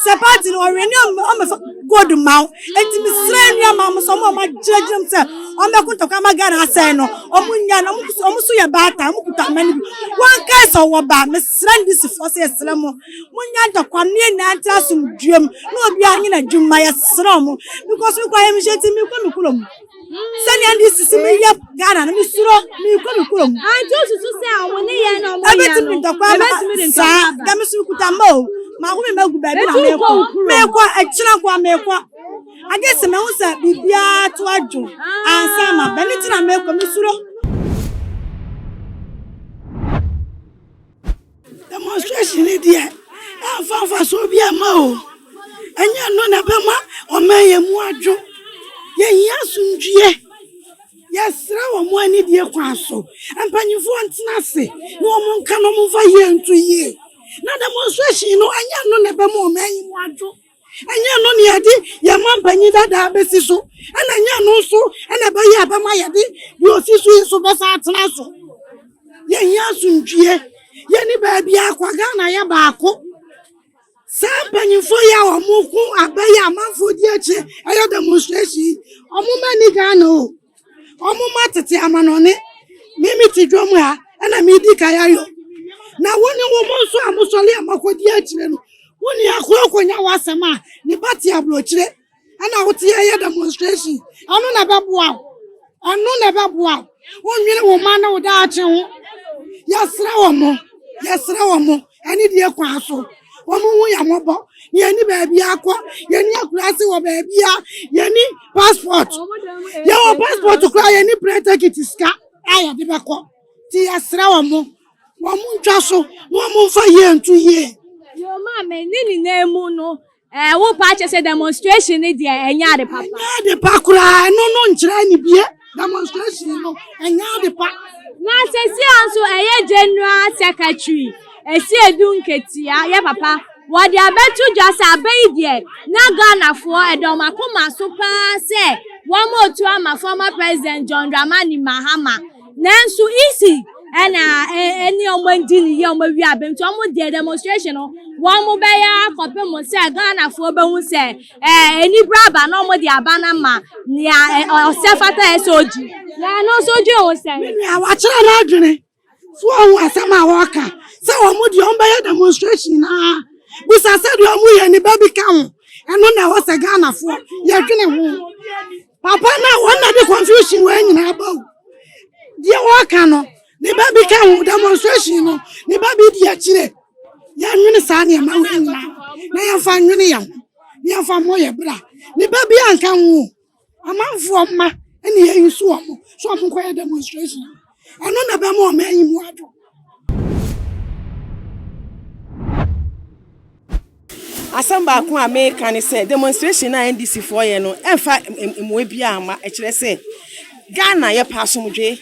sɛ paati no ɔwɛ ne ɔmɛfa gold ma wo. Enti mesrɛ anuaman mo sɛ ɔmo a ɔmo agyinagyina mu sɛ ɔmo bɛko ntɔkwa ama Ghana asɛe no ɔmo nya no ɔmo so yɛ baatan ɔmo kuta amane bi wɔn kae sɛ ɔwɔ ba mesrɛ ndisifoɔ sɛ yɛsrɛ mo mo nya ntɔkwa no yɛn nyinaa ntra asomdwoe mu na obiara nyɛ n'adwuma yɛsrɛ ɔmo because mekɔ ayɛmhyɛ nti mekɔ me kurom. sɛnea ne sisi me yɛ ghana no mesuro mekɔ me kurom anti osusu sɛ ɔmo ne yɛ na ɔmo yɛ no ntɔkwa ma saa na meso kuta ma o maako me magu baabi na mekɔ mekɔ akyina kɔ mekɔ agye sɛ mehu sɛ biribiara to adwo ansa ma bɛne nti na mekɔ mesuro Demonstration yi deɛ ɛmfa mfasoɔ bi mma o ɛnyɛ ɛno na ɛbɛma ɔman yɛ mu adwo yɛhia asomdwie yɛsrɛ wɔ mo anidie kwan so mpanimfoɔ ntena ase na wɔn nka na wɔmfa yie nto yie na demonstration no ɛnyɛ ɛno na ɛbɛma ɔman yi mu adwo. ɛnyɛ ɛno ne yɛde yɛn ma mpanyin dadaa bɛsi so ɛna ɛnyɛ ɛno nso ɛna ɛbɛyɛ ɛbɛma yɛde deɛ ɔsi so yi so bɛsan atena so yɛnyɛ asomdwie yɛne baabi akwa ghana yɛ baako saa mpanyinfoɔ yi a wɔn ko abɛyɛ amanfoɔ di akyi ɛyɛ demonstration yi wɔn mma ni ghana o. Ɔmo ma tete amanɔne. Me me te dwom ha ɛna me di kan ayɔ. Na wo ne wɔn nso a mo sɔre a mo akɔdi akyire no, wo nua koro akɔnya w'asɛm a ne ba te aburokyire ɛna wo te ɛyɛ demonstration. Ɛno na ɛbɛboa wo. Ɛno na ɛbɛboa wo. Wonnwene wo mma ne wo daakye ho. Yɛsrɛ wɔn. Yɛsrɛ wɔn. ɛne deɛ kwan so wɔn ho yɛ mmɔbɔ na yɛne baabi akɔ yɛne akurase wɔ baabi a yɛne passport yɛwɔ passport koraa yɛne plane ticket sika a yɛde bɛkɔ nti yɛsrɛ wɔn mo wɔn mo ntwa so na wɔn mfa yie nto yie. yɛn maame ne nyinaa mu no Ɛɛ wo pa kyɛ sɛ demonstration ne deɛ ɛnyɛ ade papa. Ɛnyɛ ade pa koraa ɛno no nkyerɛ ne bie demonstration no ɛnyɛ ade pa. Na sɛsi a nso ɛyɛ general secretary ɛsi edu nketia yɛ papa wɔde abɛto dwa sɛ abɛ yi deɛ na Ghanafoɔ ɛda wɔn akoma so paa sɛ wɔn otu ama former president John Dramani Mahama nanso isi ɛna ɛne ɔmo adi ne yie ɔmo awie abɛn nti ɔmo deɛ demonstration no wɔn mo bɛyɛ akɔpem mo sɛ ghanafoɔ bɛhu sɛ ɛɛ enibra aba na ɔmo de aba no ma nea ɔsɛ fata yɛ sɛ ogyi na ɛno nso gye ho sɛ. nea wakyerɛ n'adwene so ɔho asɛm a wɔka sɛ ɔmo deɛ ɔmo bɛyɛ demonstration na bisa sɛ deɛ ɔmo yɛ ne ba bi ka ho ɛno na ɛwɔ sɛ ghanafoɔ yɛdwene ho. Papa na wɔn na de confusion wɔn nyinaa ba o. Deɛ wɔka no, ne ba bi ka ho demonstration no, ne ba bi di akyire. Yɛnwene saa nneɛma wɔ nyinaa na yɛmfa nwene yɛn ho na yɛmfa mmɔ yɛn bra. Ne ba bi anka ho o. Amanfoɔ mma ɛne yɛyi so wɔn so wɔn kɔyɛ demonstration. Ɔno na ɛbɛma ɔman yi mu adwo. Asɛm baako a meka ne sɛ demonstration no a NDC foɔ yɛ no ɛmfa mmoa biara mma. Ɛkyerɛ sɛ Ghana yɛpɛ asomdwe.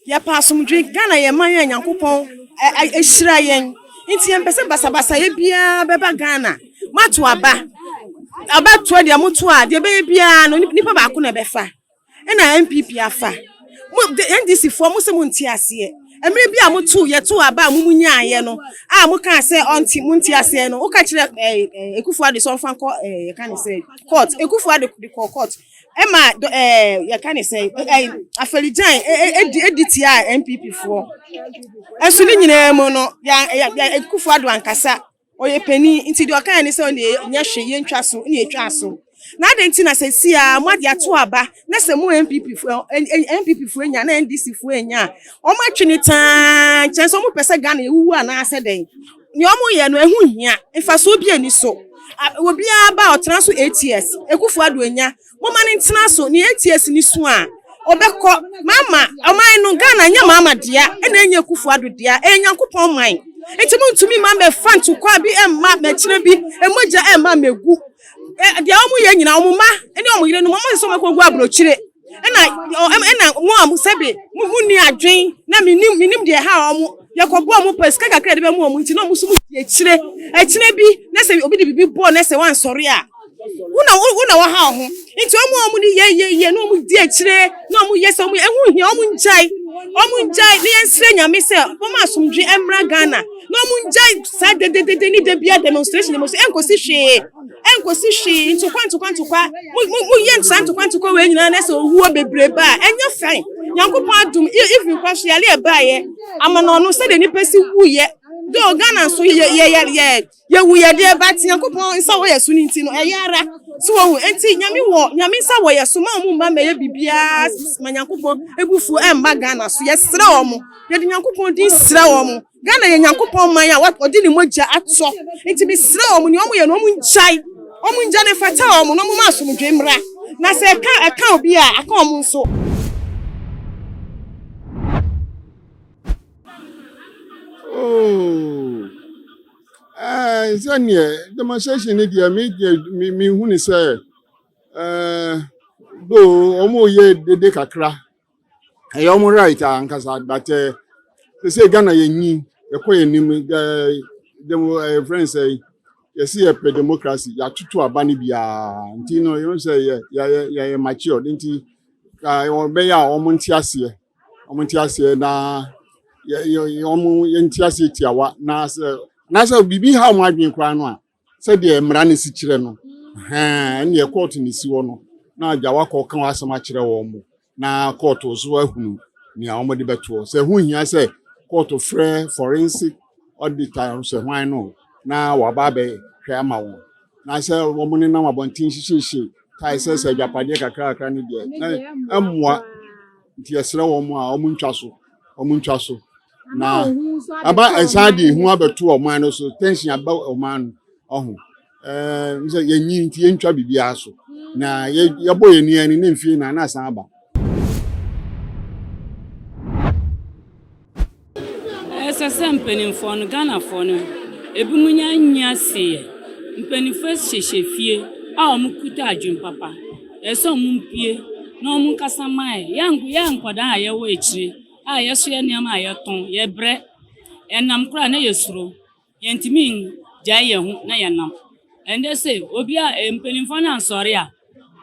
Yɛpɛ asomdwe. Ghana yɛ man a Nyankopɔn ahyira yɛn. Nti yɛmpɛ sɛ basabasayɛ biara bɛba Ghana. Moato aba. Aba toɔ deɛ moto a deɛ ɛbɛyɛ biara no nipa baako na ɛbɛfa. Ɛna NPP afa. Mo NDC foɔ mo se mo nte aseɛ. Ɛmere bi a mo to yɛ to aba a mo mo nyaayɛ no a mo kaa sɛ ɔnte mo nte aseɛ no woka kyerɛ ɛɛ ɛɛ Ekufu Ado sɛ ɔnfa nkɔ ɛɛ yɛka ne sɛ court Ekufu Ado de kɔɔ court ɛma dɔ ɛɛ yɛka ne sɛ ɛɛ afɛrigyan ɛdi ɛdi tia NPP foɔ. Ɛso ne nyinaa mu no yɛ yɛ Ekufu Ado ankasa. ɔyɛ panin nti deɛ ɔkaeɛ ne sɛ ɔne nyɛ hwe yɛntwa so ne ɛtwaa so na adɛn nti na sɛsi a moade ato aba na sɛ mo npp foɔ npp foɔ nya na ndc foɔ nya a wɔn atwe ne taa nkyɛn sɛ wɔn pɛ sɛ ghana ewuwu anaasɛ dɛn nea wɔn yɛ no ɛho hia mfasoɔ bi ani so obiara ba ɔtena so eight years ekufu ado enya Momma no ntena so, nea ATS no su a, ɔbɛkɔ. Mama, ɔman no, Ghana nyɛ Mama dea, ɛna ɛnyɛ Akufo Addo dea, ɛyɛ Nyankopɔn man. Nti montumi mma mmɛfa ntokwa bi mma mmɛkyerɛ bi, mmogya mma mmɛgu. Ɛ, deɛ wɔyɛ nyinaa, wɔn mma ne wɔn yerenom, wɔn sɛ wɔbɛkɔgu aburokyire. Ɛna, ɔ, ɛm- ɛna mo a mo sɛbe, mo, monni adwen, na menim, menim deɛ ɛha wɔn. Yɛkɔboa wɔn pɛ, sika kakra a yɛde bɛma wɔn nti, na wɔn nso modi akyire. Ɛkyena bi, na sɛ obi de biribi bɔ wo na sɛ woansɔre a, Wona wona waha wo ho. Nti ɔmo ɔmo ne yɛ yɛ yɛ na ɔmo di akyire na ɔmo yɛ sɛ ɔmo ɛho hia ɔmo ngyae. Ɔmo ngyae na yɛnsrɛ nyame sɛ ɔmo asomdwe ɛmmra Ghana. Na ɔmo ngyae saa dededede ne da bia demonstration demonstration ɛnkosi hwee. Ɛnkosi hwee ntokwa ntokwa ntokwa mo mo mo yɛ saa ntokwa ntokwa wei nyinaa na ɛsɛ owuo bebree ba a ɛnyɛ fine. Nyankopɔn adom e- even kora so yare ɛbaeɛ amanɔno sɛdeɛ nipa si wuiɛ. Though Ghana nso yɛ yɛ yɛ yɛ Yɛwu yɛ deɛ but Nyankopɔn nsa wɔ yɛ so no nti no ɛyɛ ara so wɔ hu nti Nyame wɔ Nyame nsa wɔ yɛ so ma ɔmo mma mɛyɛ bibiaa ma Nyankopɔn ebufuo ɛmba Ghana so yɛsrɛ ɔmo yɛde Nyankopɔn din srɛ ɔmo Ghana yɛ Nyankopɔn man a ɔde ne mogya atɔ nti mesrɛ ɔmo nea ɔmo yɛ no ɔmo ngyae ɔmo ngya no ɛfata ɔmo na ɔmo ma asomdwoe mmra na sɛ ɛka ɛka obi a aka ɔmo nso. sɛdeɛ demonstration no deɛ me deɛ me me hu ne sɛ do wɔn yɛ dede kakra ɛyɛ wɔn right a nkasa but eh, te sɛ ghana yɛ nyi ɛkɔ yɛ nim dɛ demo ɛyɛ friend sɛ yɛsi yɛ pɛ democracy yɛatoto aba no biara nti no yɛn sɛ yɛ yɛ yɛ yɛ mature nti ka wɔn bɛyɛ a wɔn nte aseɛ. wɔn nte aseɛ na wɔn yɛnte aseɛ tiawa na sɛ na sɛ biribi ha wɔn adwene koraa no a sɛdeɛ mmara no si kyerɛ no ɛnneɛ kɔɔto no si hɔ no na agya wakɔ ka wɔn asɛm akyerɛ wɔn mo na kɔɔto so ahunu nea wɔde bɛtoɔ sɛ ho hia sɛ kɔɔto frɛ forensic ɔde tan hyɛ hwan no na waba abɛhwɛ ama wɔn na sɛ wɔn nenam abɔnten hyehyehye tae sɛ sɛ agyapadeɛ kakrakra no deɛ na ɛmmoa nti yɛsrɛ wɔn a wɔn ntwa so wɔn ntwa so na ɛba ɛsan de ehu abɛto ɔman no so tension aba ɔman no ɔho Ɛɛ sɛ yɛnyi nti yɛntwa biribiara so na yɛbɔ yɛn ani ani ne mfie na na asan aba. Ɛsɛ sɛ mpanimfoɔ no Ghanafoɔ no ebinom nya nya sieɛ. Mpanimfoɔ hyehyɛ fie a wɔn kuta adwene papa. Ɛsɛ sɛ wɔn mpie na wɔn nkasa mae. Yɛ yɛ nkwadaa a yɛwɔ akyire a yɛsoɛ nneɛma a yɛtɔn yɛbrɛ. Ɛnam koraa na yɛsuro. Yɛntumi ngyae yɛn ho na yɛnam. Ɛndɛ se obi a mpaninfoɔ no ansɔre a,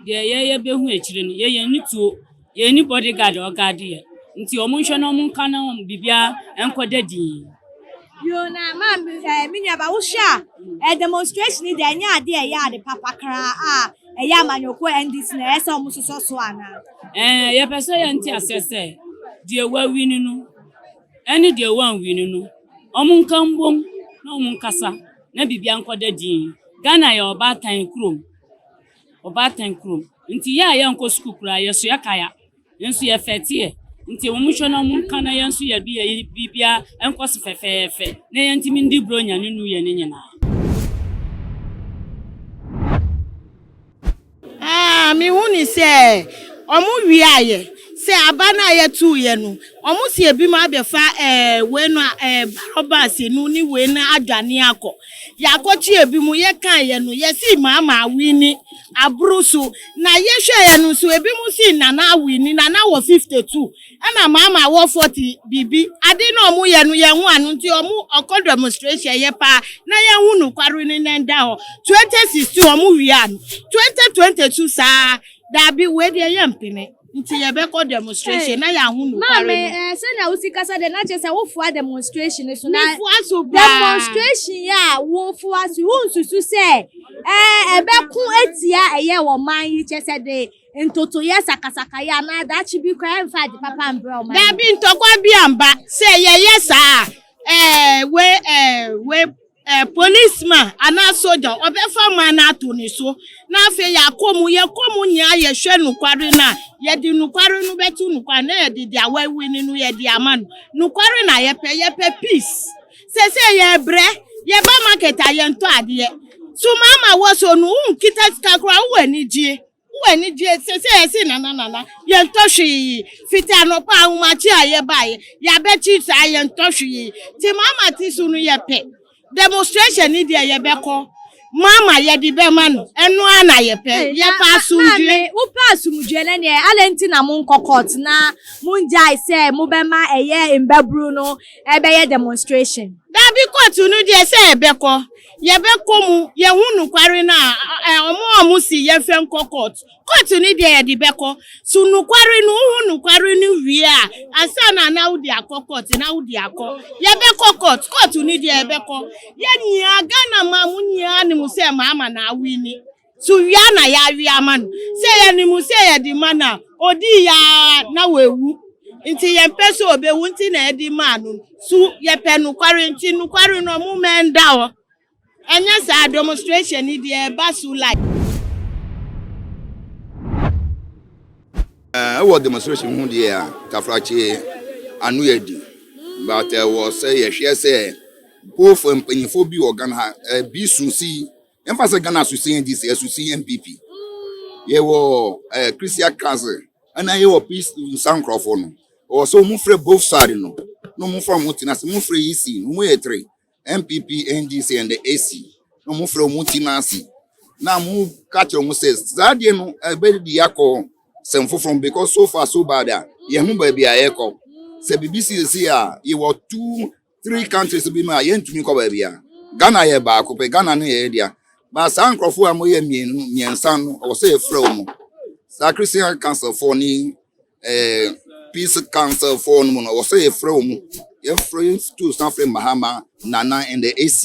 deɛ yɛyɛ bɛhu akyire no. Yɛyɛ nni tuo, yɛn nni body guard a ɔgaade yɛn. Nti ɔmo nhwɛ na ɔmo nka na ɔmo biribiara nkɔ da dinn. Bio na maame ɛɛ me nua ba wo hwɛ a ɛɛ demonstration yi deɛ ɛnyɛ adeɛ a ɛyɛ ade papa kraa a ɛyɛ amanyɔkuo NDC na ɛyɛ sɛ ɔmo sosɔ so anaa? Ɛɛ yɛpɛ sɛ yɛnte aseɛ sɛ deɛ wawini no ɛne deɛ wanwui no no wɔn nka mbom na wɔn nkasa na biribia nkɔ da dinn. Ghana yɛ ɔbaatan kurom, ɔbaatan kurom nti yɛ a yɛnkɔ sukuu koraa yɛsoɛ kaya nso yɛfɛteɛ nti wɔn nhwɛ na wɔn nka na yɛn nso yɛde yɛn biribia nkɔ so fɛfɛɛfɛ na yɛntumi ndi Buronya ne New Year no nyinaa. Aa mehu ne sɛ ɔmo wiaayɛ sɛ aba no a yɛtoo yɛ no ɔmo si ebi mo abɛfa ɛɛ wei no a ɛɛ barɔbas no ne wei no adwane akɔ yɛakɔ kye ebi mo yɛkaa yɛ no yɛsi maama awini aboro so na yɛhwɛ yɛ no nso ebi mo si nana awini nana wɔ 52 Ɛna maama awɔfoɔ te biribi ade na ɔmo yɛ no yɛn ho ano nti ɔmo ɔkɔ demonstration yɛ paa na yɛn ho nokware no na ɛda hɔ 2016 ɔmo wia no 2020 so saa daabi wei deɛ yɛ mpene nti yɛ bɛkɔ demonstration na yɛn ho nokware no. Maame ɛɛ sɛ na wosi kasa deɛ na kyerɛ sɛ wofua demonstration no so na. Mefua so paa. Demonstration yɛ a wofua so wonsusu sɛ ɛɛ ɛbɛko atia ɛyɛ wɔ man yi kyɛ sɛ de. ntotoeɛ, sakasakayɛ, anaa daakye bi koraa ɛmfa ade papa mbrɛ ɔman no. Daabi, ntɔkwa bi amba. Sɛ yɛyɛ saa a, ɛɛ, wei, ɛɛ, wei, ɛɛ, policeman anaa sogya, ɔbɛfa ɔman no ato ne so, na afei yɛakɔ mu, yɛkɔ mu nyinaa yɛhwɛ nokware no a, yɛde nokware no bɛto no kwan, na yɛde deɛ wawini no yɛde ama no. Nokware na yɛpɛ, yɛpɛ peace. Seesei yɛrebrɛ, yɛba market a yɛntɔ adeɛ. Sumama wɔ so no, wonkita sika koraa, wowɔ anigyeɛ. Wo ani gye sɛ sɛ yɛse nana nana yɛntɔ hwee yi fiti anɔpa ahomakye a yɛbaeɛ yɛabɛkyi saa yɛntɔ hwee yi te mama te so no yɛpɛ demonstration ne deɛ yɛbɛkɔ mama yɛde bɛma no ɛno a na yɛpɛ yɛpɛ asomdwe. Wopɛ asomdwe no neɛ adɛn nti na monkɔ court na mongyae sɛ mobɛma ɛyɛ mbaburu no ɛbɛyɛ demonstration. Daabi court no deɛ sɛ ɛbɛkɔ Yɛbɛkɔ mu yɛhu nokware no a ɛ ɔmo a ɔmo se yɛnhwɛ nkɔ court. Court no deɛ yɛde bɛkɔ. So nokware no wohu nokware no wie a ansa na na wode akɔ court na wode akɔ. Yɛbɛkɔ court. Court no deɛ yɛbɛkɔ. Yɛn nyinaa Ghana man mu nyinaa nim sɛ Mahama na awini. So wia na yɛawe ama no? Sɛ yɛnim sɛ yɛde ma no a, ɔdii yɛ ara na wawu. Enti yɛmpɛ sɛ ɔbɛwu nti na yɛde maa no. So yɛpɛ nokware nti? Nokware no, momma ɛnda hɔ. Ɛnyɛ saa, demonstration yi deɛ ɛba so live. Ɛwɔ demonstration ho deɛ a, Tafrakye ano yɛ di. But ɛwɔ sɛ yɛhwɛ sɛ Mpofoɔ mpanyinfoɔ bi wɔ Ghana ha, ɛbi su si Yɛmfa sɛ Ghana asusu NDC, asusu NPP. Yɛwɔ ɛɛ eh, Christian Kanse, ɛna yɛwɔ peace nsa nkurɔfoɔ no. Ɔwɔ sɛ wɔn frɛ both side no, na wɔn fa wɔn ti n'ase. Wɔn frɛ EC, wɔn yɛ three, NPP, NDC and the AC. Na wɔn frɛ wɔn ti n'ase. Na wɔn ka kyerɛ wɔn sɛ saa adeɛ no ɛbɛdi akɔ sɛm foforɔ because so far so bad a yɛn ho baabi a yɛkɔ. Sɛ biribi siesie a yɛwɔ two three countries bi mu a yɛntumi nkɔ baabi a ghana yɛ baako pɛ ghana ne yɛyɛ dea ba saa nkurɔfoɔ a moyɛ mmienu mmiɛnsa no ɔwɔ sɛ yɛfrɛ wo mu saa christian council foɔ ne eh, peace council foɔ no mu no ɔwɔ sɛ yɛfrɛ wo mu yɛfrɛ yɛtu san frɛ mahama nana and the ac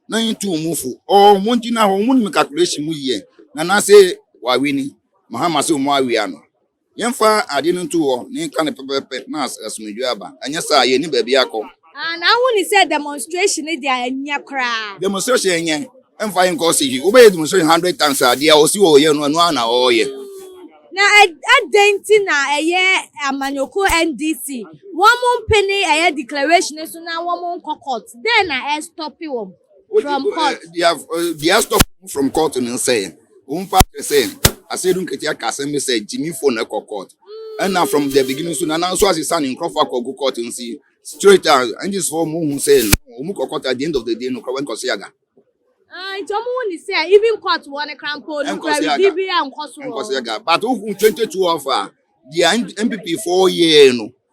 na yɛtu mu fo ɔɔ mo gyina hɔ mo nim calculation mu yie nana sɛ wawe ni mahama sɛ ɔmo awea no Yɛmfa ade no nto hɔ na yɛnka no pɛpɛɛpɛ na asomdwoe aba, anyɛ saa a yenni baabi akɔ. Ah, na wohu no sɛ demonstration no deɛ ɛnyɛ koraa. Demonstration ɛnyɛ, ɛmfa yɛn nkɔ ɔsehwe. Wobɛyɛ demonstration hundred times a, deɛ ɔse ɔɔyɛ no, ɛno ara na ɔɔyɛ. Na adɛn nti na ɛyɛ amanyɔkuo NDC, wɔn mpene ɛyɛ declaration no so na wɔn nkɔ court? Dɛn na ɛstope wɔn from court? Deɛ ɛstope wɔn from court no ne sɛ, Wɔmfa kyerɛ sɛ asɛyɛde nketewa ka asɛm bi sɛ gyimifo na ɛkɔ court. Ɛna from the beginning nso Nana nso asesa ne nkurɔfo akɔ gu court nti straight a NGs fo wɔn hu sɛ wɔn kɔ court at the end of the day no kora wɔnkɔ seaga. Ah, nti wɔn hu ne sɛ even court wɔ ne kra mpo no kora bibi bi a nkɔ so wɔ. Nkɔ seaga. But wohu 22 of a deɛ NPP fo yɛɛ no.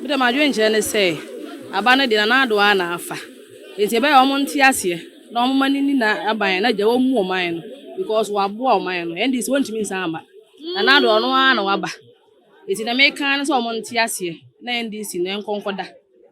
Me deɛ m'adwenkyerɛ ne sɛ aban no deɛ Nana Addo ara na afa nti ɛbɛyɛ a wɔn nte aseɛ na wɔn mma no nni na aban na gya wɔn mu ɔman no because waboa ɔman no NDC wɔn ntumi nsan mma Nana Addo ɔno ara na waba nti deɛ meka ne sɛ wɔn nte aseɛ na NDC no ɛnkɔ nkɔ da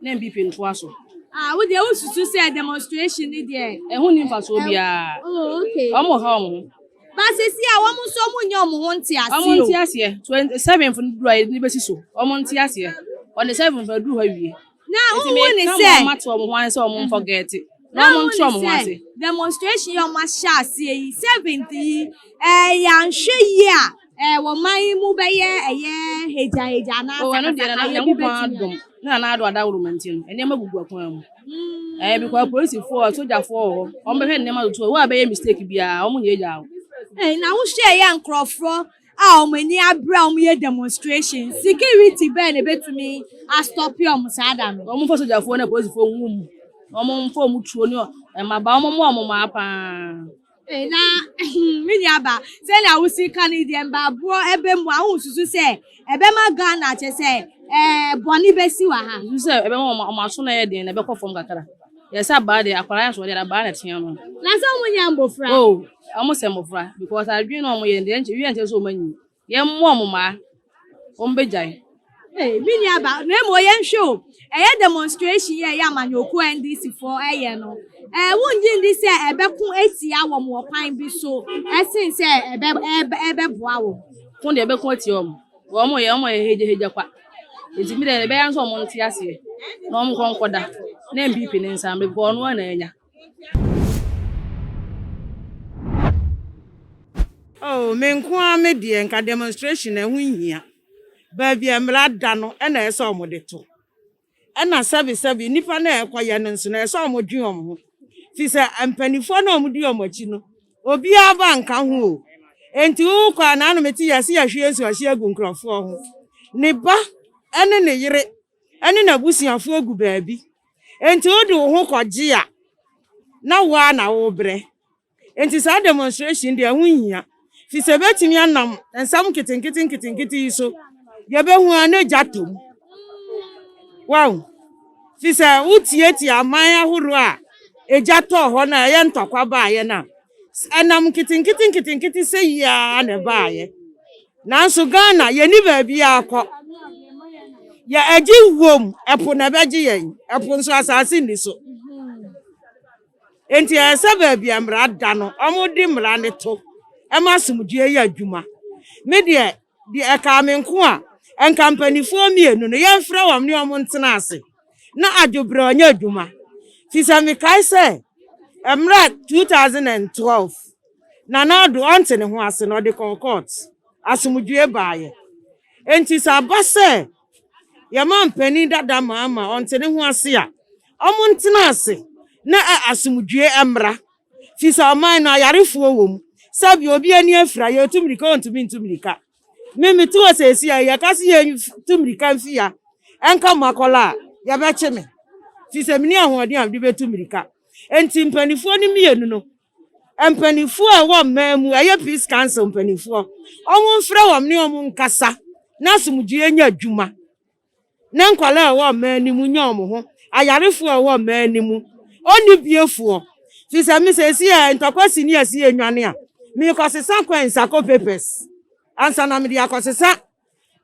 na NPP ntoa so. Ah, wo deɛ wo susu sɛ demonstration ni deɛ. Ɛho ni mfasoɔ biara. Oh, okay. Wɔn ha wɔn ho. Ba sisi a wɔn nso wɔn nyɛ wɔn ho nteaseɛ o. Wɔn nteaseɛ twenty seven fo no duru a yɛde bɛsi so wɔn nteaseɛ on the seven fo aduru hɔ awie. Na wɔn hu ne sɛ. Wɔn ato wɔn ho ase sɛ wɔn nfɔgɛɛte na wɔn nto wɔn ho ase. Demonstration yi wɔn ahyɛ aseɛ yi seventh yi ɛɛ yɛanhwɛ yie a. Eh, wɔ man yi mu bɛyɛ ɛyɛ hegyahegya anaa Oh, ɛno deɛ na sakasakayɛ bi Nyankopɔn bɛtumi adom a. na n'ado adaworo ma nti no, nneɛma gugu akwan mu. Ɛɛ Mm. because polisifoɔ, sogyafoɔ wɔ hɔ, wɔbɛhwɛ nneɛma toto hɔ. Wo a bɛyɛ mistake biara, wɔnyɛgyaa wo. Eh, na wohwɛ yɛ nkurɔfoɔ a wɔn ani abere a wɔyɛ demonstration security bɛn na ebetumi astɔpe wɔn saa da no. Wɔmfa sogyafoɔ ne apolisifoɔ ngu mu. Na wɔmfa wɔn tuo ne ɔ- mmabaa, wɔmmoa wɔn mmaa paa. Na me nuabaa, sɛnea wo si ka no yi deɛ mbaaboɔ ɛbɛ mu a, wo nsusu sɛ ɛbɛma Ghana kyɛ sɛ ɛɛ bɔne bɛsi wɔ ha? Nsusu sɛ ɛbɛma wɔn wɔn aso na ɛyɛ den na ɛbɛkɔ fam kakra. Yɛ sɛ abaa deɛ akwadaa yɛ nso wɔde abaa na ɛtea no. Na sɛ wɔn nyɛ mmɔfra? Oh, wɔn sɛ mmɔfra because adwene na wɔn yɛ deɛ ɛnkyɛ wie ɛnkyɛ sɛ wɔn anyin. Yɛmmoa wɔn mma wɔmmegyae. Hey, me nua ba, na mmom yɛnhwɛ o, ɛyɛ demonstration yɛ ɛyɛ amanyɔkuo NDC foɔ ɛyɛ no, ɛɛ wongye ndi sɛ ɛbɛko atia wɔn wɔ kwan bi so ɛsen sɛ ɛbɛ ɛbɛ ɛbɛboa wɔn? Ko deɛ ɛbɛko atia wɔn, wɔn yɛ wɔn yɛ hegyahegya kwa, nti mi deɛ ɛbɛyɛ nso wɔn nte aseɛ na wɔn nkɔ nkɔda na NPP ne nsa, because wɔn na anya. Oh me nko ara me deɛ nka demonstration na ɛho nhia baabi a mmara da no ɛna ɛsɛ sɛ wɔn de to ɛna sɛbi sɛbi nipa na ɛkɔ yɛ no nso na ɛsɛ sɛ wɔn dwe wɔn ho fi sɛ mpanimfoɔ na wɔn di wɔn akyi no obiara ba nka ho o nti wokɔ a na anum ti yɛ se yɛhwie nsu ɔhye agu nkurɔfoɔ ho ne ba ɛne ne yere. ne n'abusuafoɔ gu baabi, enti wode wo ho kɔgye a, na wo ara na worebrɛ. Enti saa demonstration deɛ ɛho nhia, firi sɛ ɛbɛtumi anam nsɛm nketenkete nketenkete yi so, deɛ ɛbɛhu ara na gya tɔ mu. Wow! Firi sɛ wotiatia aman ahoroɔ a egya tɔɔ hɔ no a ɛyɛ ntɔkwa baeɛ no a, ɛnam nketenkete nketenkete sɛ yi ara na ɛbaeɛ. Nanso Ghana yɛnni baabi akɔ. Yɛ agye wuom, ɛpo na ɛbɛgye yɛn. Ɛpo nso asase nni so. Enti ɛyɛ sɛ baabi a mmara da no, wɔde mmara no to ma asomdwoeɛ yɛ adwuma. Me deɛ, deɛ ɛkaa me nko a, nka mpanimfoɔ mmienu no yɛmfrɛ wɔn ne wɔn ntena ase na adwobrɛ ɔnyɛ adwuma. Firi sɛ mekae sɛ mmerɛ 2012. Nana Addo ante ne ho ase na ɔde kɔɔ kɔɔt. Asomdwoe baeɛ. Enti sɛ aba sɛ yɛn mampanin dada Mahama ɔnte ne ho ase a, wɔntena ase na asomdwoe mmra. Ɛfiri sɛ ɔman no ayarefoɔ wɔ mu. Sɛbi obi ani afira, yɛretu mmirika, ɔntumi ntu mmirika. Me mete hɔ seesei a, yɛka sɛ yɛntu mmirika mfi ha nka Makola a, yɛbɛkye me. Ɛfiri sɛ menni ahoɔden a mede bɛtu mmirika. Enti mpanimfoɔ no mmienu no, Mpaninfoɔ a ɛwɔ mmaa mu ɛyɛ peace council mpaninfoɔ wɔn mfrɛ wɔn ne wɔn nkasa na asomdwoeɛ nyɛ adwuma na nkwadaa a ɛwɔ mmaa no mu nyɛ wɔn ho ayarefoɔ a ɛwɔ mmaa no mu ɔne biefoɔ fi sɛ me sɛ si yɛ ntɔkwa si ne asi yɛ nwane a mekɔsesa kwan nsakɔ papers ansa na mede akɔsesa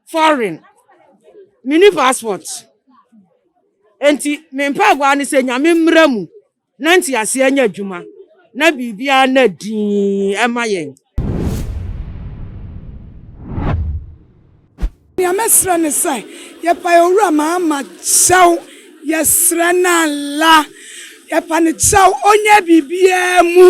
foreign mini passport nti me mpaebɔ a ne sɛ nyame mmra mu Na nteaseɛ nyɛ adwuma, na biribiara nna dinn mma yɛn. Nea mɛsrɛ ne sɛ, yɛpae Owura Mahama kyɛw, yɛsrɛ no Allah, yɛpa no kyɛw, ɔnyɛ biribiara mu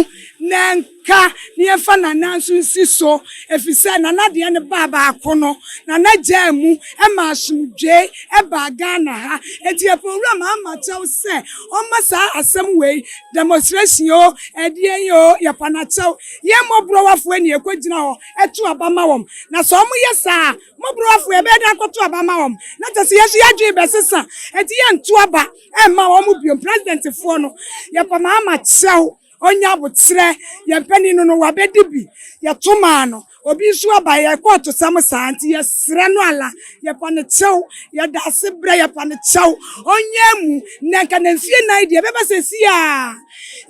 na ɛnka. ka na yɛmfa Nana nso nsi so, ɛfiri sɛ Nana deɛ no baa baako no, Nana gyaa mu ma asomdwoeɛ baa Ghana ha. Enti Apoowura maa makyɛw sɛ ɔmma saa asɛm wei, demonstration oo, ɛdeɛn oo, yɛpa no akyɛw. Yɛn mmɔborɔwafoɔ ni yɛkɔgyina hɔ to aba ma wɔn. Na sɛ wɔyɛ saa a, mmɔborɔwafoɔ yɛbɛyɛ dɛn akɔto aba ama wɔn? Na kyerɛ sɛ yɛn nso yɛn adwene rebɛsesa, enti yɛnto aba mma wɔn bio. Presidentfoɔ no, yɛpa maa makyɛw. Ɔnyɛ aboterɛ, yɛn panin no no wabɛdi bi, yɛto maa no, obi nso aba, yɛkɔ atosɛm saa, nti yɛsrɛ no ala, yɛpa no kyɛw, yɛda ase brɛ, yɛpa no kyɛw, ɔnyɛɛ mu, nnɛ nka na mfie nan deɛ ɛbɛba seesei ara,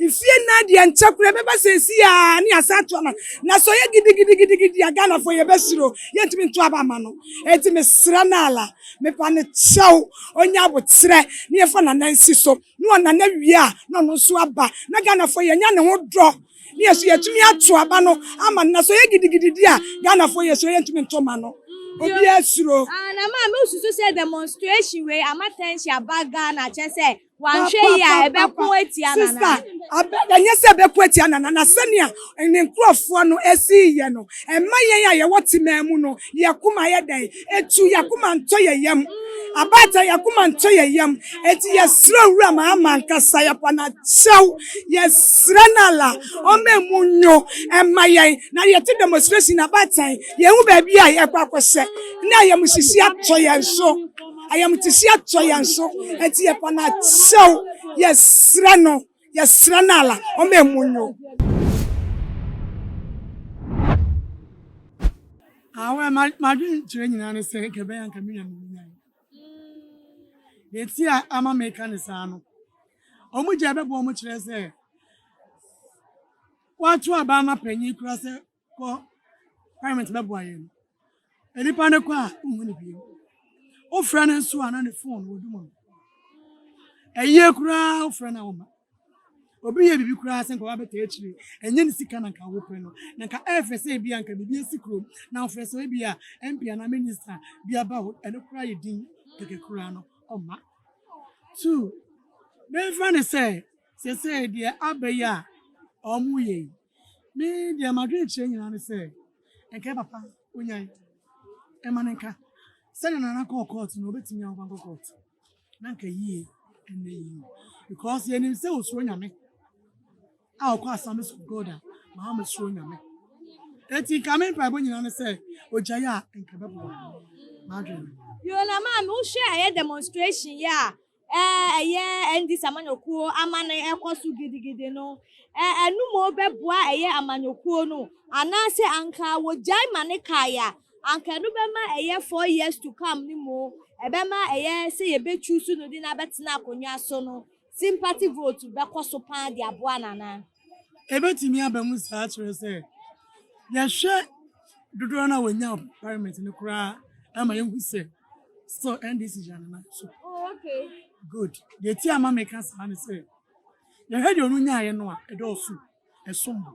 mfie nan deɛ nkyɛ koraa ɛbɛba seesei ara ne yɛasan ato ama no, na sɛ ɔyɛ gidigidigidi a Ghanafoɔ yɛbɛsuro, yɛntumi nto aba mma no, enti mesrɛ no ala, mepa no kyɛw, ɔnyɛ aboterɛ na yɛmfa n'anansi so. ne ɔna no awie a na ɔno nso aba na Ghanafoɔ yɛnya ne ho dɔ ne yɛso yɛtumi ato aba no ama no na sɛ ɔyɛ gidigidi di a Ghanafoɔ yɛsuro yɛntumi nto ma no obiara suro. Ah na maa me susu sɛ demonstration wei ama tension aba Ghana kyɛ sɛ wanhwɛ yie a ɛbɛko atia Nana. Sister abɛ ɛnyɛ sɛ ɛbɛko atia Nana na sɛnea ne nkurɔfoɔ no sii yɛ no, ɛmma yɛn a yɛwɔ temaa mu no, yɛn akoma yɛ dɛn? Etu, yɛn akoma ntɔ yɛn yam. Abaatan, yɛn akoma ntɔ yɛn yam. Enti yɛsrɛ Owura ma ama ankasa yɛpa no akyɛw. Yɛsrɛ no ala, ɔmma emu nwo mma yɛn na yɛte demonstration na abaatan yɛhu baabi a yɛkɔ akɔhyɛ ne ayamuhyehye atɔ yɛn so. Ayamuhyehye atɔ yɛn so. Enti yɛpa no akyɛw. Yɛsrɛ no. Yɛsrɛ no ala ɔma ɛmu nyo. Awɛ madwene kyerɛ nyinaa ne sɛ nka ɛbɛyɛ nka menya no nya yɛti a ama meka ne saa no ɔmo gya bɛbɔ ɔmo kyerɛ sɛ wato aba ama panyin kura sɛ kɔ parliament bɛboa yɛn no nnipa no kɔ a wohu no bio wofrɛ no nso a na ne fon wɔ dum no ɛyie koraa wofrɛ no a woma obi yɛ biribi koraa sɛ nka wabɛta akyire ɛnyɛ ne sika na nka wopɛ no na nka ɛfɛ sɛ ebi a nka biribi asi kurom na wofrɛ sɛ ebi a mp anaa minista bi aba hɔ ɛno koraa yɛ din kɛkɛ koraa no ɔma two memfa ne sɛ sɛsɛ deɛ abɛyɛ a ɔmo yɛ yi Me deɛ m'adwene kyerɛ nyinaa ne sɛ nka yɛ papa onyae ɛma no nka sɛdeɛ nana kɔɔ court no ɔbɛtumi a ɔbankɔ court na nka yie ɛnna yie because yɛnim sɛ ɔsuro nyame a ɔkɔ assemblies of God a maa mesuro nyame eti nka me mpaebɔ nyinaa ne sɛ ɔgyae a nka bɛboa m'adwene Yona man wohwɛ a ɛyɛ demonstration yɛ a ɛyɛ NDC amanyɔkuo amane ɛkɔ so gidigidi no, ɛnum bɛboa ɛyɛ amanyɔkuo no anaasɛ anka wɔgyae ma ne kae a, anka ɛno bɛma ɛyɛ four years to come no mu ɛbɛma ɛyɛ sɛ yɛbɛchuusu no de no abɛtena akonnwa so no, sympathy vote bɛkɔ so paa de aboa no anaa? Ɛbɛtumi aba mu saa kyerɛ sɛ yɛhwɛ dodoɔ no a wɔnya wɔ parliament no koraa a ɛma yɛhu sɛ. still ndc gyina ne nan so oh, good deɛ ti ama meka saa ne sɛ yɛhwɛ deɛ ɔno nyaeɛ no a ɛdɔɔso ɛsom bo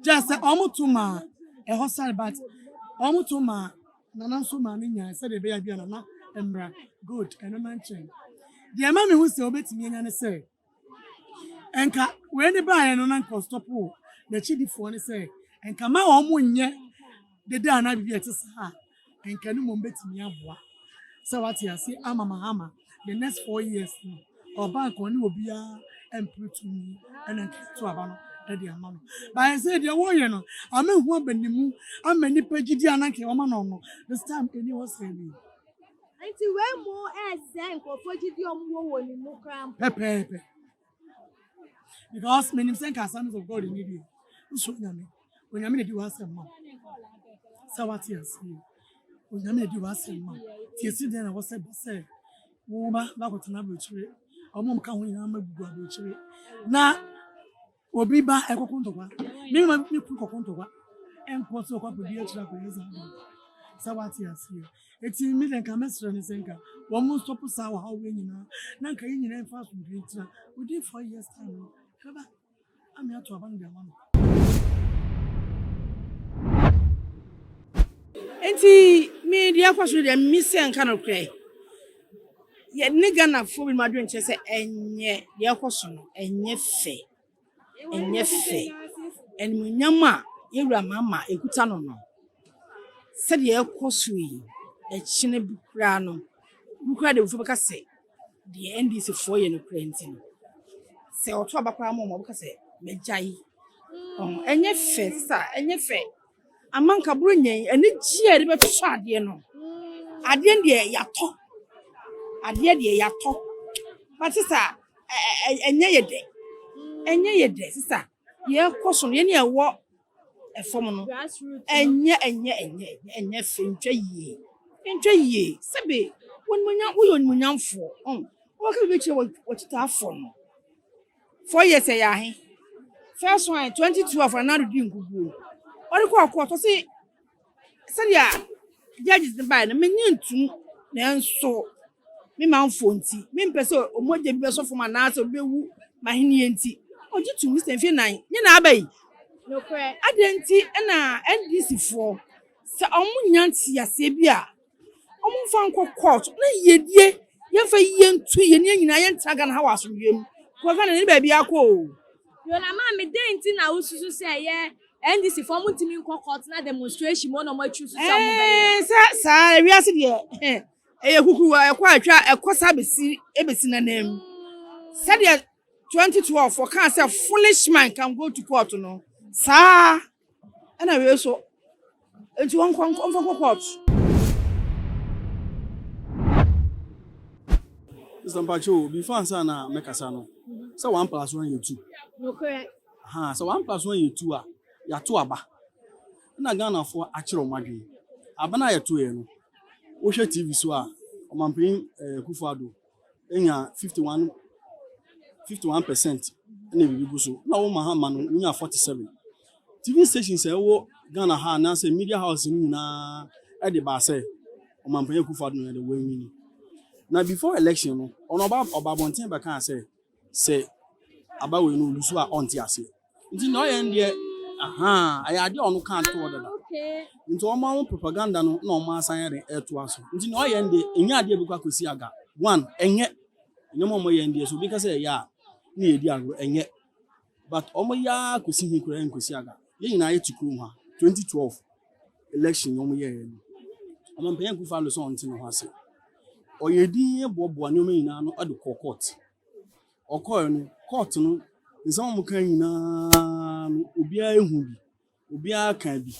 gyɛ sɛ ɔmoto maa ɛhɔ sare but ɔmoto maa nana nso maa ne nyaeɛ sɛdeɛ ɛbɛyɛ bi a nana mmra good ɛno na nkyɛn deɛ ɛma mehu sɛ wobɛtumi anya ne sɛ Nka wei ne baeɛ no na nka ɔstɔpo wɔ n'akyidifoɔ no sɛ nka ma wɔn mo nyɛ dede anaa biribi a ɛte saa a nka no mmom bɛtumi aboa sɛ wate ase ama mahama the next four years no ɔba nka ɔne obiara ɛmpere tumi ɛna nka to aba no ɛde ama no baeɛ sɛ deɛ wɔyɛ no ama hu abanimu ama nipa gyidi ananka wɔma no no this time ɛni hɔ sɛ bi Nti wei mu ɛsɛ nkurɔfoɔ gyidi a wɔwɔ wɔ ne mu koraa mpo. Pɛpɛɛpɛ. Because menim sɛ nka assemblies of God ni deɛ wosuro Nyame. Onyame na di w'asɛm ma. Sɛ wate aseɛ. Onyame na di w'asɛm ma. Ti esi deɛ na wɔsɛ ba sɛ wo ba bakɔtena aburokyire. Wɔn a wɔka ho nyinaa ma gugu aburokyire. Na Obi ba ɛkɔko ntɔkwa. Me ma me kuru kɔko ntɔkwa. Ɛnkɔ sɛ ɔkɔ akɔdi akyiri akɔyɛ saa bɔ. Sɛ wate aseɛ. Eti me dɛ nka mɛsrɛ ne sɛ nka wɔn mo stop saa wɔ ha wei nyinaa. Na nka yɛn nyinaa mfa asomdwe ntena. Within four years time no, ɛbɛba. Ame ato aba no de ama no. Enti me deɛ ɛkɔ so deɛ me sɛ nka no korɛ. Yɛne Ghanafoɔ binom adwene kyerɛ sɛ ɛnyɛ deɛ ɛkɔ so no ɛnyɛ fɛ ɛnyɛ fɛ animuonyam a yɛwura Mahama ɛkuta no no sɛdeɛ ɛkɔ so yi ɛkyene bi koraa no bi koraa deɛ bɛka sɛ deɛ NDC foɔ yɛ no koraa nti no sɛ ɔto aba koraa ma wɔn a wɔbɛka sɛ magyae ɛnyɛ fɛ sa ɛnyɛ fɛ. Ama anka borɔnya yi, anigyeɛ a yɛde bɛtotɔ adeɛ no, adeɛ deɛ yɛatɔ, adeɛ deɛ yɛatɔ. But sisa, ɛnyɛ yɛ dɛ, ɛnyɛ yɛ dɛ sisa. Yɛkɔ so no, yɛn a yɛwɔ fam no, ɛnyɛ ɛnyɛ ɛnyɛ ɛnyɛ fɛ, ntwa yie, ntwa yie. Sɛbe, w'animuonyam, woyɛ onimuonyamfoɔ, ɔn, wobɛka biribi akyerɛ w'akyitaafoɔ no. Four years ɛyɛ ahe? First one, 2012 na Nado di nkuguo no. Ɔde kɔ ɔkɔ ɔtɔ se sɛdeɛ judges no baeɛ no menye ntum nanso me manfoɔ nti mempɛ sɛ ɔmɔgya bi bɛsɔ fam anaasɛ ɔbɛwu mahenneɛ nti ɔgye tum ne sɛ mfie nan nye na aba yi. Nokorɛ. Adɛn nti na NDC foɔ sɛ ɔmo nya nteaseɛ bi a Ɔmo nfa nkɔ kɔɔt na yɛdie yɛnfa yie ntu yɛn nua nyinaa yɛntena Ghana ha wɔ asomdwoeɛ mu because Ghana yɛne baabi akɔ oo. Yona maame dɛn nti na wo susu sɛ ɛyɛ NDC foɔ ɔmo ntumi nkɔ court na demonstration mu na ɔmo atwi so sɛ ɔmo bɛyɛ. Ɛɛn sɛ saa wiase deɛ ɛyɛ kukuruwa ɛkɔ a ɛtwa ɛkɔ saa bɛsi ɛbɛsi nanam sɛdeɛ 2012 wɔkaa sɛ foolish man can go to court no saa Ɛna wei nso, nti wɔnkɔ nkɔ ɔmfa nkɔ court. Sister mpakyɛ o, before ansa na mɛ kasa no, sɛ one plus one yɛ two. Nokorɛ. Ha, sɛ one plus one yɛ two a, yato aba. Ɛna Ghana foɔ akyerɛ wɔn adwene. Aba no a yɛto yɛ no, wohwɛ TV so a, Ɔmanpanin eh, Kufuor Addo. enya fifty one fifty one percent na biribi gu so na wɔma ha ma no wonya forty seven tv stations a ɛwɔ ghana ha anaasɛ media house no nyinaa ɛde baa sɛ ɔmampanyɛ kufa do no ɛde wɔanwini na before election no ɔno ɔba ɔba abɔnten bɛkaa sɛ sɛ aba wei no ɔlusu a ɔnte aseɛ nti na ɔyɛ deɛ ahaa ɛyɛ adeɛ a ɔno kaa toɔ dada nti ɔma ho propaganda no na ɔma asan yɛde ɛtoa so nti na ɔyɛ deɛ ɛnyɛ adeɛ bɛkɔ akɔsi aga one ɛnyɛ nneɛma ɔmɔ yɛ deɛ so obi ka sɛ ɛyɛ a na yɛdi agorɔ ɛnyɛ But ɔmo yɛ aa kosi he koraa nkosi aga yɛ nyinaa yɛ te kurom ha 2012 election yi ɔmo yɛɛ no ɔman panyin Akuffo Addo sɛ ɔnte ne ho ase ɔyɛ din yɛ boaboa nneɛma nyinaa no de kɔɔ court ɔkɔɛ no court no nsɛm ɔmo kan nyinaa no obiara ehu bi obiara kaa bi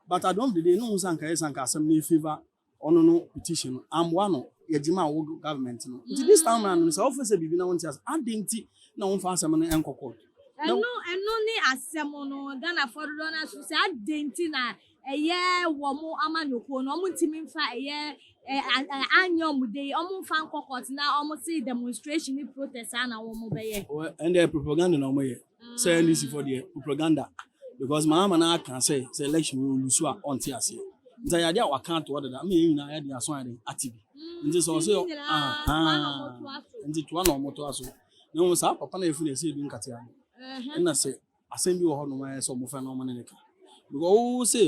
but at the end of the day no ho sɛ anka yɛ sɛ anka asɛm no efavour Ɔno no petition no amboa no. Yɛgyemaa wo government no. Nti this time round no sɛ wofrɛ sɛ biribi na wonte ase a, adɛn nti na womfa asɛm no nkɔ court? Ɛno ɛno ne asɛm no. Ghanafoɔ dodoɔ no ara nso sɛ adɛn nti na ɛyɛ wɔn amanyɔkuo no wɔn ntumi mfa ɛyɛ ɛɛ anyɛ wɔn de yi wɔn mfa nkɔ court na wɔn se demonstration ne protest saa na wɔn bɛyɛ. Wɔ ɛndeɛ propaganda na wɔn yɛ. Sɛ NDC fɔ deɛ propaganda because Mahama na aka sɛ sɛ election wɔ lusu a ɔnte aseɛ nti ayɛ adeɛ a waka ato hɔ dada ama yɛn nyinaa yɛde aso ayɛ dɛn ate bi nti sɛ ɔsɛ ahaa nti toa na ɔmo toa so na wɔn saa papa na yɛfiri na ɛsɛ edu nkatea no ɛna sɛ asɛm bi wɔ hɔ nom ayɛ sɛ ɔmo fɛ na ɔmo ne ne ka because ɔwɔ sɛ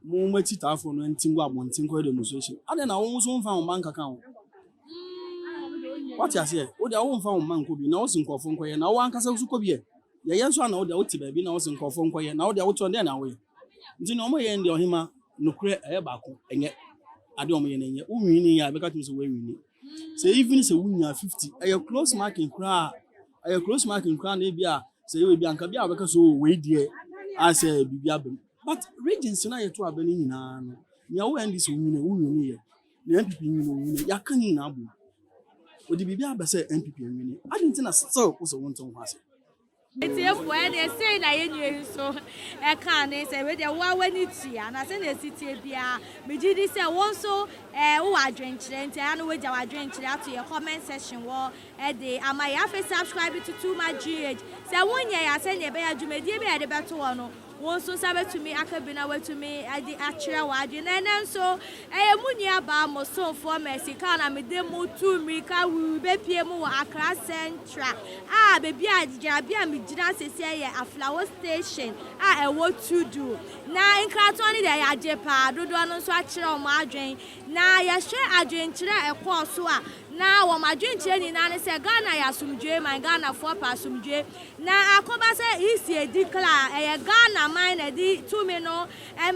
Mo mo akyitaafo no nte ngu abɔnten nkɔyɛ demonstration adɛn na wo nso wo nfa wo mma nkaka ho wate aseɛ wo deɛ wo nfa wo mma nkɔ bi na wo se nkɔɔfo nkɔyɛ na wo ankasa nso kɔ bi ɛ yɛyɛ nso ana wo deɛ wo te baabi na wo se nkɔɔfo nkɔyɛ na wo deɛ wo tɔn dɛn na wo yɛ nti na ɔmo yɛ deɛ ɔhema nokorɛ ɛyɛ baako ɛnyɛ adeɛ ɔmo yɛ na ɛnyɛ wo nwini yɛ a ɛbɛka tumi sɛ wo nwini sɛ even sɛ wonya 50 ɛyɛ close marking koraa ɛyɛ close marking koraa na ebi a sɛ yɛ ebi anka bi a wɔbɛka so oh, wei deɛ asɛ biribi abam but regions no ayɛ to abɛ no nyinaa no nea wo ndc nyina wo nyina yɛ na npp nyina wo nyina yɛaka ne nyinaa bom wɔde biribi abɛ sɛ npp nwini ade nti na still wo sɛ wonte ho ase Atiefo, ɛnde sei na yɛn nua yi nso kaa no, sɛ wei deɛ wo ara w'ani tua, anaa sɛnea ɛsi teɛ biara, megye di sɛ wo nso wowɔ adwenkyerɛ, nti ɛyɛ a na woagya w'adwenkyerɛ ato yɛn comment section hɔ de ama yɛn. Afei subscribe to Too Much GH, sɛ wonyɛɛ a, sɛnea ɛbɛyɛ a dwumadie bi a yɛde bɛto hɔ no, Wo nso nsa bɛtumi aka bi na woatumi de akyerɛ w'adwene. Na ɛnnɛ nso, ɛyɛ mo nuabaa, mo somfoɔ Mercy Kang na mede mo retu mmirika rebɛpue mo wɔ Accra Central a baabi a gyinabea a megyina seesei yɛ Aflao Station a ɛwɔ Tudu. Na nkratoɔ no deɛ yɛagye pa ara, dodoɔ no nso akyerɛ wɔn adwene. Na yɛhwɛ adwenkyerɛ a ɛkɔɔ so a, na wɔn adwenkyerɛ nyinaa ne sɛ Ghana yɛ asomdwoeɛ man, Ghanafoɔ pɛ asomdwoeɛ. Na akoba sɛ EC edi kla a, ɛyɛ Ghana man na ɛde tumi no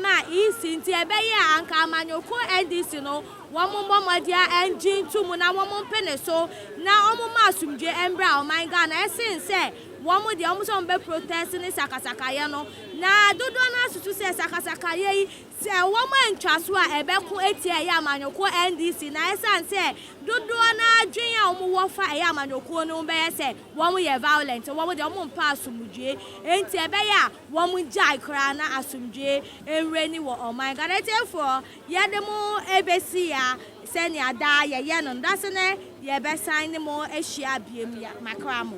maa EC nti ɛbɛyɛ a anka amanyɔkuo NDC no wɔn mmɔ mmɔdea ngye nto mu na wɔn mpene so na wɔn mma asomdwoe mbra ɔman Ghana ɛsen sɛ wɔn deɛ wɔn sɛ wɔn bɛ protest ne sakasakayɛ no na dodoɔ no ara susu sɛ sakasakayɛ yi sɛ wɔn antwa so a ɛbɛko atia ɛyɛ amanyɔkuo NDC na ɛsan sɛ dodoɔ no ara dwen a wɔn wɔ fa ɛyɛ amanyɔkuo no ho bɛyɛ sɛ Wɔn yɛ violent, wɔn deɛ wɔn mpɛ asomdwoe, enti ɛbɛyɛ a wɔn gyae koraa na asomdwoe nwura ni wɔ ɔman Ghana atiefoɔ yɛ de mo ɛbɛsi ya sɛ nea daa yɛ yɛ no no da so nɛ yɛ bɛ san ne mo ahyia biem ya ma kra mo.